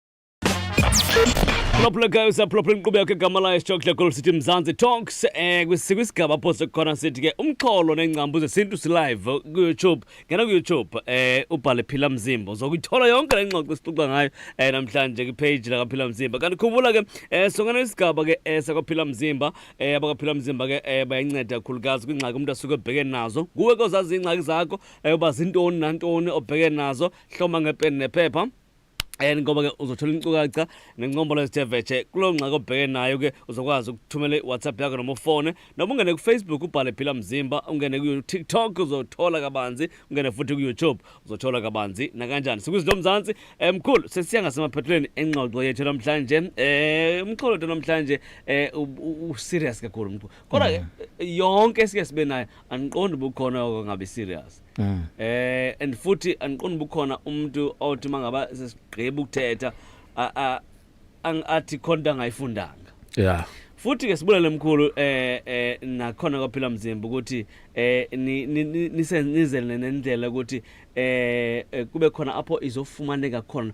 A: Plophulekayo usaplophula inkqubeko egama layo sitshokhle kolu sithi Mzansi Talks eh kwisigaba apho sikhona sithi ke umxholo nengcambu zesintu silive ku-YouTube ngena ku-YouTube eh ubhale Phila Mzimba uzokuyithola yonke le ngxoxo sixoxa ngayo eh namhlanje kwi-page lakaPhila Mzimba kanti khumbula ke eh songena isigaba ke eh sakwaPhila Mzimba eh abakaPhila Mzimba ke eh bayanceda kakhulukazi kwingxaki umuntu asuke ebheke nazo kuwe ke ozazi ingxaki zakho eh uba zintoni nantoni obheke nazo hloma ngepeni nephepha and ngoba ke uzothola inkcukacha nencombolo ezithe vetshe kuloo ngxaki obheke nayo ke uzokwazi ukuthumela iwhatsapp yakho noma ufone noma ungene kufacebook ubhale phila mzimba ungene kutiktok uzothola kabanzi ungene futhi kuyoutube uzothola kabanzi nakanjani sikwizinto mzantsi um mkhulu sesiya ngasemaphethelweni engxoxo yethu namhlanje um eh, umxholo wethu namhlanje um eh, userious kakhulu mkhulu kodwa ke mm. yonke esike sibe nayo andiqondi ubukhona oko ngabe serious Mm. Eh and futhi angiqondi bukhona umuntu othi mangaba sesigqiba ukuthetha athi khonta angayifundanga. Yeah.
B: futhi ke sibulele
A: mkhulu eh eh nakhona kwaphila mzimba ukuthi eh nisenizele nendlela ukuthi eh, eh kube khona apho izofumaneka khona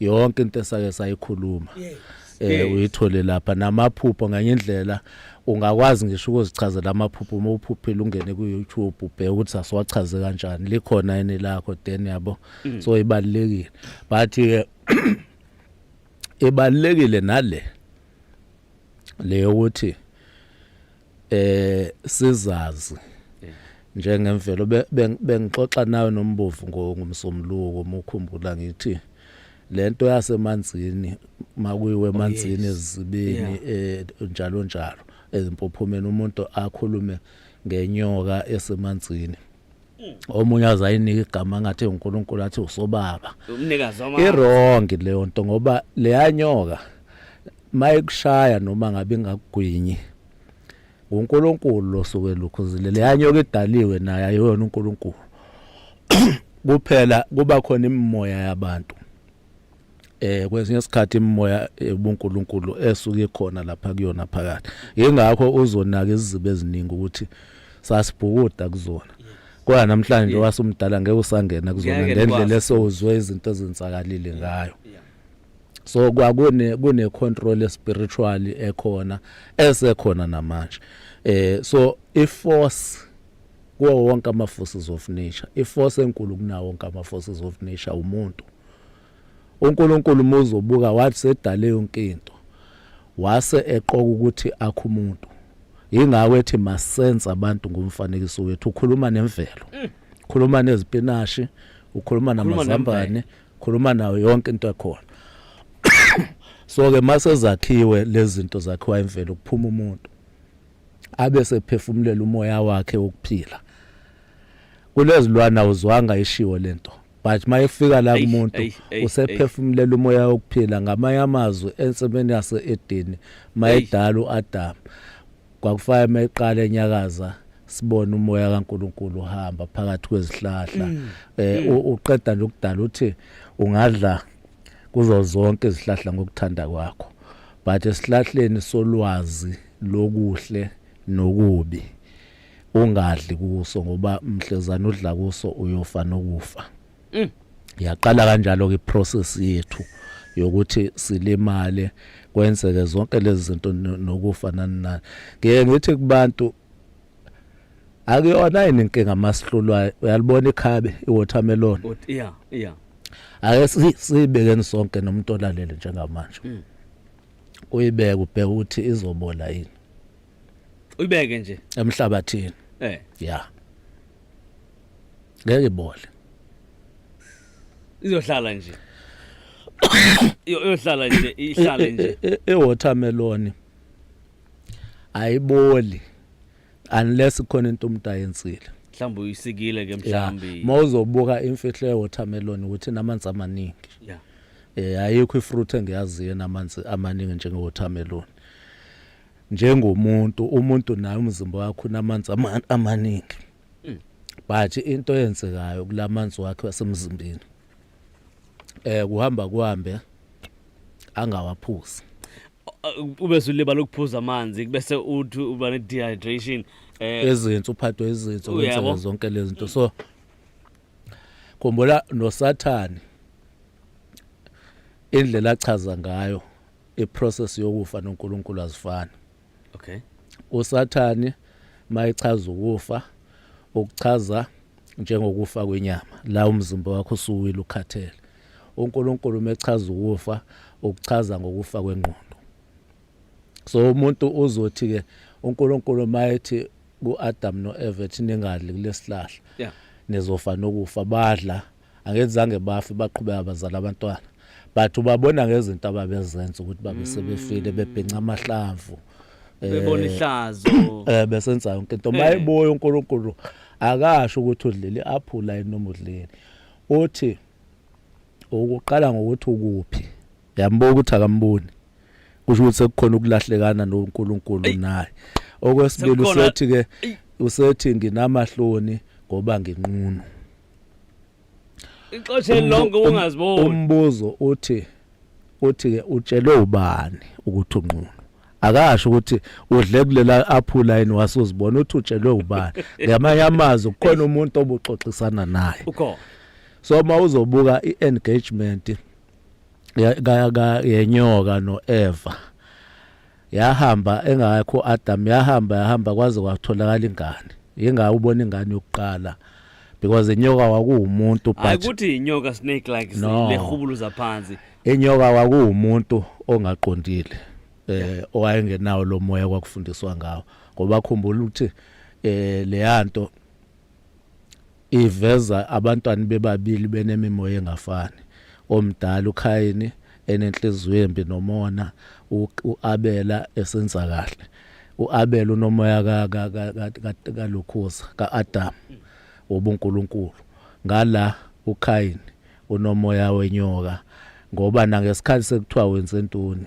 B: yonke into esake sayikhuluma eh uyithole lapha namaphupho nganye indlela ungakwazi ngisho ukuzichazela amaphupho uma uphuphile ungene ku-youtube ubheke ukuthi asiwachaze kanjani likhona yini lakho then yabo mm. so ibalulekile but-ke ibalulekile nale le yokuthi eh sizazi njengemvelo bengixoxa nawe nombovu ngomsomluko mukhumbula ngithi lento yasemanzini makuyiwe oh, emanzini ezibini eh, njalo njalo ezimpophomeni umuntu akhulume ngenyoka esemanzini Mm. omunye azayinika igama ngathi uNkulunkulu athi usobaba umnikazi wama
A: irong leyo nto
B: ngoba leyanyoka mayikushaya noma ngabe ingakugwinyi uNkulunkulu losuke lukhuzile leyanyoka idaliwe naye ayona uNkulunkulu kuphela kuba khona imimoya yabantu eh kwesinye isikhathi imimoya ubuNkulunkulu esuke ikhona lapha kuyona phakathi ingakho uzonaka izizibe eziningi ukuthi sasibhukuda kuzona kodwa namhlanje wasumdala ngeke usangena kuzona ngendlela esowuzwe izinto ezenzakalile ngayo so kwakune kune control spiritual ekhona esekhona namanje eh so i force kuwo wonke ama forces of nature i force enkulu kunawo wonke ama forces of nature umuntu uNkulunkulu muze ubuka wathi sedale yonke into wase eqoka ukuthi akho umuntu yingakho ethi masense abantu ngomfanekiso wethu ukhuluma nemvelo mm. ukhuluma nezipinashi ukhuluma namazambane ukhuluma nayo yonke into ekhona so ke mase zakhiwe lezi zinto zakhiwa imvelo kuphuma umuntu abe sephefumulela umoya wakhe wokuphila kulezilwana uzwanga ishiwo lento but mayefika la kumuntu usephefumulela umoya wokuphila ngamanye amazwi ensimini yase Edeni mayedala uAdam kwakufanele mayiqala enyakaza sibone umoya kaNkuluNkulu uhamba phakathi kwezihlahla mm. eh mm. uqeda nje ukudala uthi ungadla kuzo zonke izihlahla ngokuthanda kwakho but esihlahleni solwazi lokuhle nokubi ungadli kuso ngoba mhlezana udla kuso uyofa nokufa mm. yaqala kanjalo ke process yethu yokuthi silimale kwenzeke zonke lezi zinto nokufa nani nani ngeke ngithi kubantu akuyona yini inkinga masihlulwayo uyalibona ikhabe iwatermelon yeah yeah
A: ake
B: sibekeni sonke nomuntu olalele njengamanje mm. uyibeke ubheke ukuthi izobola yini
A: uyibeke nje emhlabathini
B: eh yeah ngeke ibole
A: izohlala nje iyohlala nje ihlale nje e, e, e, e-watermelon
B: ayiboli unless khona into umuntu ayenzile mhlawumbe uyisikile
A: ke mhlawumbe mawuzobuka imfihlo
B: ye-watermelon ukuthi namanzi amaningi yeah eh ayikho ifruit engiyaziyo namanzi amaningi njenge-watermelon njengomuntu umuntu naye umzimba wakho unamanzi amaningi hmm. but into eyenzekayo kulamanzi wakhe wasemzimbeni eh kuhamba kuhambe angawaphuzi
A: ube sulibala ukuphuza amanzi bese uthi uba ne dehydration eh ezinto
B: uphathwe izinto kwenzeka zonke lezi
A: zinto so
B: khumbula nosathane indlela achaza ngayo iprocess yokufa noNkulunkulu azifani okay
A: usathane
B: mayichaza ukufa ukuchaza njengokufa kwenyama la umzimba wakho usuwile ukhathele uNkulunkulu mechaza ukufa ukuchaza ngokufa kwengqondo so umuntu uzothi ke uNkulunkulu mayethi kuAdam noEva ethi ningadli kulesihlahla yeah
A: nizofa nokufa
B: badla angenzange bafe baqhubeka bazala abantwana but ubabona ngezinto ababezenza ukuthi babe sebefile mm. bebhinca amahlamvu bebona eh,
A: ihlazo eh besenza yonke into
B: mayiboyo eh. uNkulunkulu akasho ukuthi udlile aphula inoma udlile uthi ukuqala ngokuthi ukuphi yambo ukuthi akamboni kusho ukuthi sekukhona ukulahlekana noNkulunkulu naye okwesibili usethi ke usethi nginamahloni ngoba nginqunu
A: ixoshe Umbu- lonke um- ungaziboni umbuzo uthi
B: uthi ke utshelwe ubani ukuthi unqunu akasho ukuthi udle kulela aphula yini wasuzibona uthi utshelwe ubani ngamanye amazwi kukhona umuntu obuxoxisana naye ukhona
A: so uma
B: uzobuka i-engagement ya- ka- ka- yenyoka no-eva yahamba engakho Adam yahamba yahamba kwaze kwatholakala ingane yengawe ubona ingane yokuqala because inyoka wakuwumuntu but ayikuthi inyoka snake
A: like no. lehubuluza phansi inyoka
B: wakuwumuntu ongaqondile eh owayengenawo lo moya kwakufundiswa ngawo ngoba khumbula ukuthi eh leyanto Iveza abantwana bebabili benemimoya engafani, omdala uKhayini enenhliziyo embi nomona, u-Abela esenza kahle. U-Abela unomoya kalokhuza, ka-Adamu, wobunkulunkulu. Ngala, uKhayini unomoya wenyoka, ngoba nangesikhathi sekuthiwa wenze ntoni,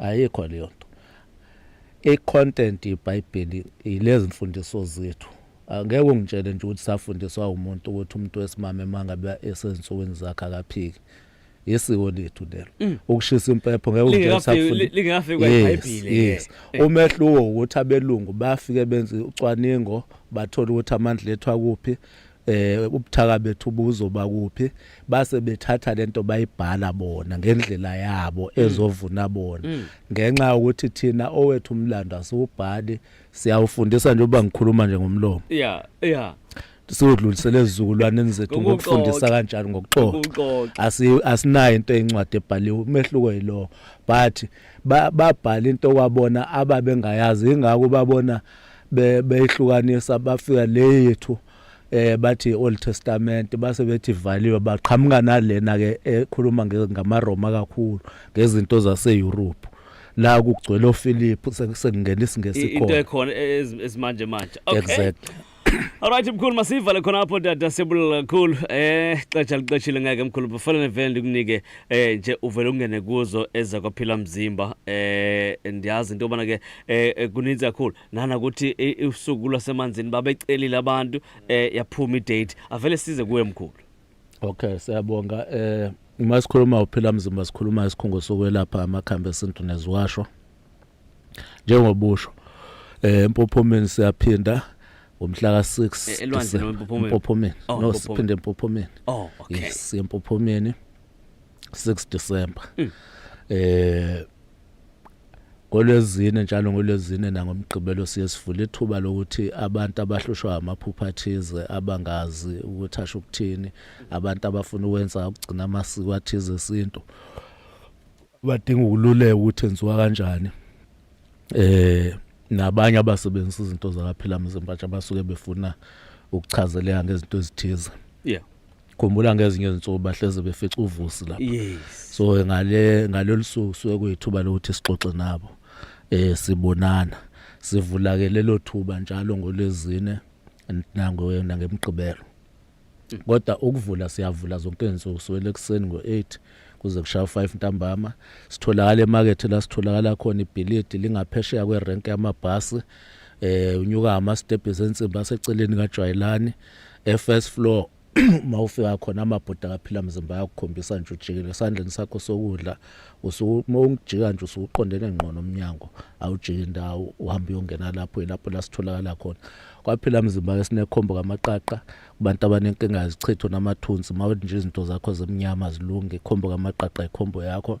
B: ayikho leyo nto i-content yebhayibheli yilezi mfundiso zethu angeke ungitshele nje ukuthi safundiswa umuntu ukuthi umuntu wesimame uma ngabe esezinsukwini zakhe akaphiki yisiko lethu lelo mm. ukushisa impepho ngeke ungitshele
A: umehluko
B: ukuthi abelungu bafike benze ucwaningo bathola ukuthi amandla ethu akuphi eh ubuthaka bethu buzoba kuphi base bethatha lento bayibhala bona ngendlela yabo mm. ezovuna bona mm. ngenxa ukuthi thina owethu umlando asiwubhali siyawufundisa nje uba ngikhuluma nje ngomlomo yeah yeah
A: sodlulisele
B: ezizukulwaneni zethu ngokufundisa kanjani ngokuxoxa asinayo into eyincwadi ebhaliwe umehluko yilowo but babhala into kwabona ababengayazi ingakho babona beyihlukanisa bafika le yethu eh bathi Old Testament base bethi valiwe baqhamuka nalena ke ekhuluma ngamaRoma kakhulu ngezinto zaseEurope la kugcwele oFiliphu sekungena isingesi khona into ekhona
A: esimanje manje okay exactly
B: Alright mkhulu
A: masivale khona apho dada siyabulala kakhulu eh xesha lixeshile ngeke mkhulu kufanele vele ndikunike eh nje uvele ungene kuzo eza kwaphila mzimba eh ndiyazi into yobana ke eh, eh kuninzi kakhulu nana ukuthi eh, usuku lwasemanzini babecelile abantu eh yaphuma idate avele size kuwe mkhulu okay
B: siyabonga eh uma sikhuluma uphila mzimba sikhuluma isikhungo sokwelapha amakhambi esintu neziwasho njengobusho eh empophomeni siyaphinda ngomhla ka6 elwandle
A: empophomeni oh,
B: no siphinde empophomeni oh okay
A: yes empophomeni
B: 6 December mm. eh NgoLwezine, njalo ngoLwezine nangoMgqibelo siye sivule ithuba lokuthi abantu abahlushwa amaphupha athize abangazi ukuthi asho ukuthini, abantu abafuna ukwenza ukugcina amasiko athize esintu badinga ukululeka ukuthi enziwa kanjani. Eh nabanye abasebenzisa izinto zakaphila mzimba abasuke befuna ukuchazeleka ngezinto ezithize. Yeah.
A: khumbula ngezinye
B: izinsuku bahleze befica uvusi lapha yes so ngale ngalolu suku suke kuyithuba lokuthi sixoxe nabo eh sibonana sivula ke lelo thuba njalo ngolezine nango nangemgqibelo kodwa ukuvula siyavula zonke izinsuku suwele ekseni ngo8 kuze kushaya 5 ntambama sitholakala emarket la sitholakala khona ibhilidi lingaphesheya kwerank yamabhasi eh unyuka ama steps ensimba seceleni kajwayelani e first floor uma ufika khona amabhuda akaphila mzimba ayakukhombisa nje ujikile esandleni sakho sokudla uma ungijika nje usuqondene ngqo nomnyango awujiki indawo uhamba uyongena lapho ilapho la sitholakala khona kwaphila mzimba-ke sinekhombo kamaqaqa kubantu abanenkinga yezichitho namathunzi uma nje izinto zakho zimnyama zilunge ikhombo kamaqaqa ikhombo yakho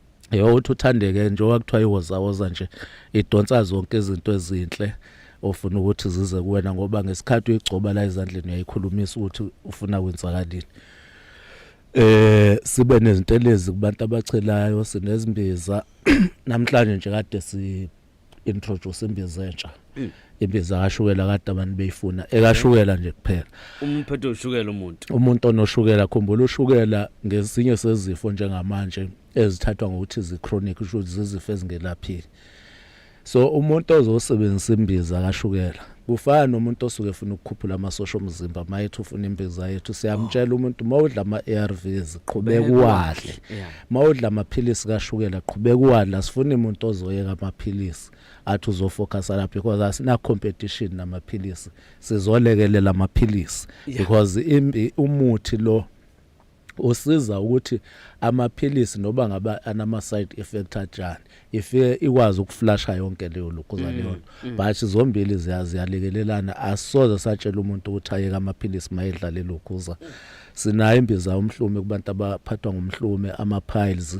B: Yho uthi uthandeke njengoba kuthiwa iwozawoza nje idonsa zonke izinto ezinhle ofuna ukuthi zize kuwena ngoba ngesikhathi uyigcoba la ezandleni uyayikhulumisa ukuthi ufuna kwenzakalini eh sibe nezintelezi kubantu abachelayo sinezimbiza namhlanje nje kade si introduce imbiza entsha hmm. imbiza kashukela kade abantu beyifuna ekashukela nje kuphela umphetho ushukela
A: umuntu umuntu onoshukela
B: khumbula ushukela ngesinye sezifo njengamanje ezithathwa ngokuthi zi chronic kusho ukuthi zizifo ezingelaphiki so umuntu ozosebenzisa imbiza kashukela Kufana nomuntu osuke efuna ukukhuphula amasosha omzimba uma ethi ufuna imbiza yethu siyamtshela umuntu uma udla ama-ARVs qhubeka uwadle uma udla amaphilisi kashukela qhubeka uwadle asifuni umuntu ozoyeka amaphilisi athi uzofocusa lapho because asina competition namaphilisi sizolekelela amaphilisi because umuthi lo usiza ukuthi amaphilisi noba ngaba anama side effect ajani ifike ikwazi ukuflasha yonke leyo lokuzana mm, yona mm. but zombili ziyalekelelana asoze satshela umuntu ukuthi ayeke amaphilisi mayedlale lokhuza sinayo imbiza umhlume kubantu abaphathwa ngomhlume ama piles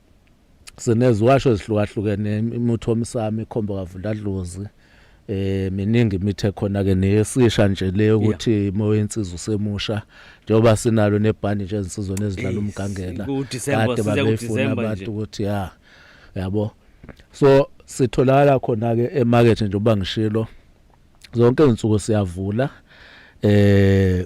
B: sineziwasho ezihlukahlukene imutho omsami ikhombo kavundadlozi eh miningi imithi ekhona ke neyesisha nje leyo ukuthi imoya yensiza usemusha njengoba sinalo nebhandi nje ezinsizweni ezidlala umgangela kade babefuna abantu ukuthi ya yabo so sitholakala khona ke emarket njengoba ngishilo zonke izinsuku siyavula eh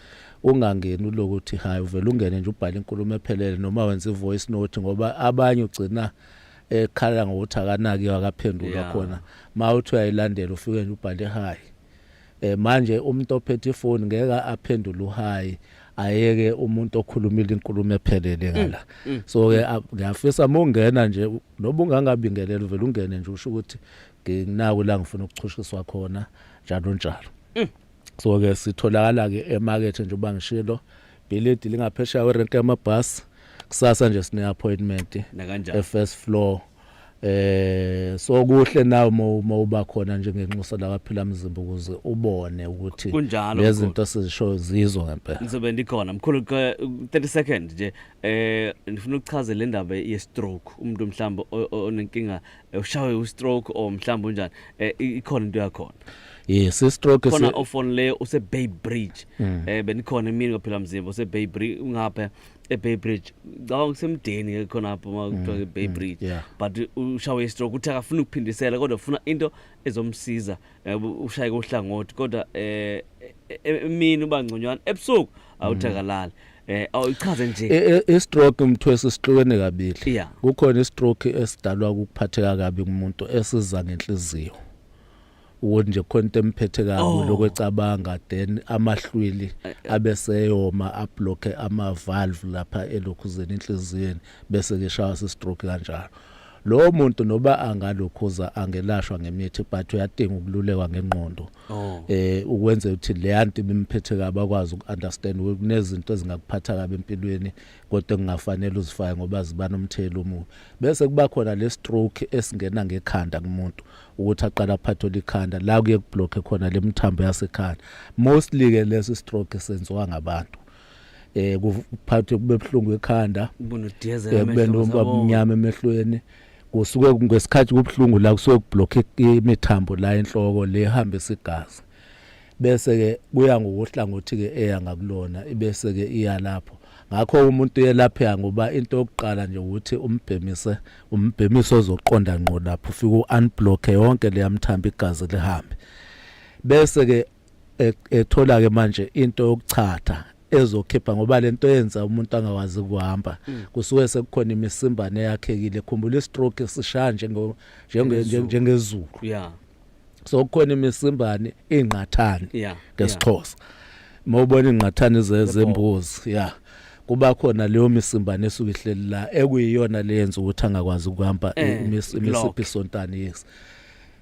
B: ungangeni uloku uthi hayi uvele ungene nje ubhale inkulumo ephelele noma wenza ivoice note ngoba abanye ugcina ekhala ngokuthi akanaki akaphendulwa yeah. khona ma uthi uyayilandela ufike nje ubhale hayi eh manje umuntu ophethe ifoni ngeke aphendule uhayi ayeke umuntu okhulumile inkulumo ephelele mm, ngala mm. so ke ngiyafisa mongena nje noba ungangabingelela uvela ungene nje usho ukuthi nginaku la ngifuna ukuchushiswa khona njalo njalo mm. so ke sitholakala ke emarket nje uba ngishilo bhilidi lingaphesheya werenke yamabhasi kusasa nje sine appointment e first floor eh so kuhle nawe uma uba khona nje ngenxusa la kwaphila mzimba ukuze ubone ukuthi lezinto sizisho zizo ngempela ngizobe ndikhona mkhulu 30
A: second nje eh ngifuna ukuchaza le ndaba ye stroke umuntu mhlawumbe onenkinga ushawe ustroke or mhlawumbe unjani eh, i- ikhona into yakhona yes istroke
B: khona si- ofon leyo
A: use bay bridge Mm. eh benikhona emini kwaphela mzimba use bay bridge ungapha e bay bridge ngicabanga kusemdeni ke khona lapho uma kuthiwa ke bay bridge Mm, yeah. but ushawe istroke uthi akafuna ukuphindisela kodwa ufuna into ezomsiza eh, ushaye kohlangothi kodwa eh e- e- emini uba ngconywana ebusuku awuthakalali eh awuchaze nje I- i- i-stroke mthwesi
B: sihlukene kabili Yeah. kukhona
A: i-stroke
B: esidalwa ukuphatheka kabi kumuntu esiza ngenhliziyo ukuthi nje khona into emphethe kabi Oh. lokho ecabanga then amahlwili abe seyoma abloke ama-valve lapha elokhuzeni enhliziyweni bese keshaya si-stroke kanjalo lowo muntu noba angalokhuza angelashwa ngemithi but uyadinga ukululekwa ngengqondo Oh. Eh ukwenza ukuthi le anti bimphethe kabi akwazi ukunderstand kunezinto ezingakuphatha kabi empilweni kodwa kungafanele uzifake ngoba zibana umthelo omubi. Bese kuba khona le stroke esingena ngekhanda kumuntu ukuthi aqala aphathe likhanda la kuye kubloke khona le mthambo yasekhanda. Mostly ke lesi stroke senziwa ngabantu. eh kuphathe kube buhlungu ekhanda eh, kube nomba omnyama emehlweni kusuke ngesikhathi kubuhlungu la kusuke kublock imithambo la enhloko le hamba isigazi bese ke kuya ngokuhlangothi ke eya ngakulona ibese ke iya lapho ngakho umuntu uyelapheka ngoba into yokuqala nje ukuthi umbhemise umbhemiso ozoqonda ngqo lapho ufike uunblock yonke leyamthambi igazi lihambe bese ke e, ethola ke manje into yokuchatha ezokhipha ngoba lento yenza umuntu angawazi kuhamba mm. kusuke sekukhona imisimbane yakhekile khumbula istroke sishaya njengo njengezulu
A: yeah so kukhona
B: imisimbane ingqathane yeah ngesixhosa mawubona ingqathane zezembuzi yeah kuba khona leyo misimbane esuke ihleli la ekuyiyona leyenza ukuthi angakwazi ukuhamba eh, imisiphi sontani yes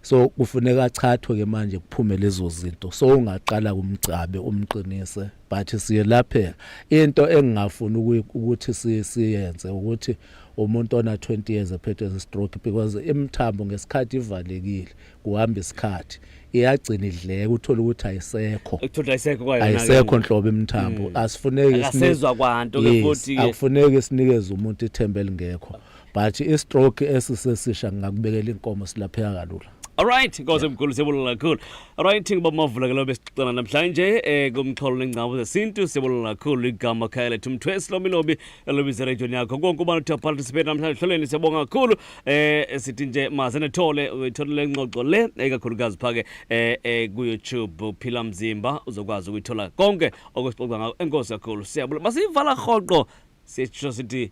B: so kufuneka achathwe ke manje kuphume lezo zinto so ungaqala kumgcabe umqinise but siyelapheka into engingafuni ukuthi siyenze ukuthi umuntu ona 20 years ephethwe stroke because imthambo ngesikhathi ivalekile kuhamba isikhathi iyagcina idleka uthola ukuthi ayisekho ekuthola ayisekho kwayo ayisekho nhlobo imthambo hmm. asifuneki sisezwa kwanto
A: ke futhi akufuneki sinikeze
B: umuntu ithemba elingekho but istroke esisesisha ngingakubekela inkomo silapheka kalula Alright, inkosi emkhulu
A: siyabonga kakhulu. Alright, ngoba mavula ke lo besixoxana namhlanje eh kumxholo nengcawo zesintu siyabonga kakhulu igama khaya lethu Mthwesi Lomilobi elobize region yakho. Konke ubani uthe participate namhlanje hloleni siyabonga kakhulu. Eh sithi nje maze nethole uyithole lengxoxo le ekakhulukazi phake eh, eh ku YouTube Phila Mzimba uzokwazi ukuyithola konke okusixoxa ngako. Enkosi kakhulu. Siyabonga. Masivala rhoqo sisho sithi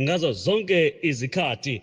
A: ngazo zonke izikhathi.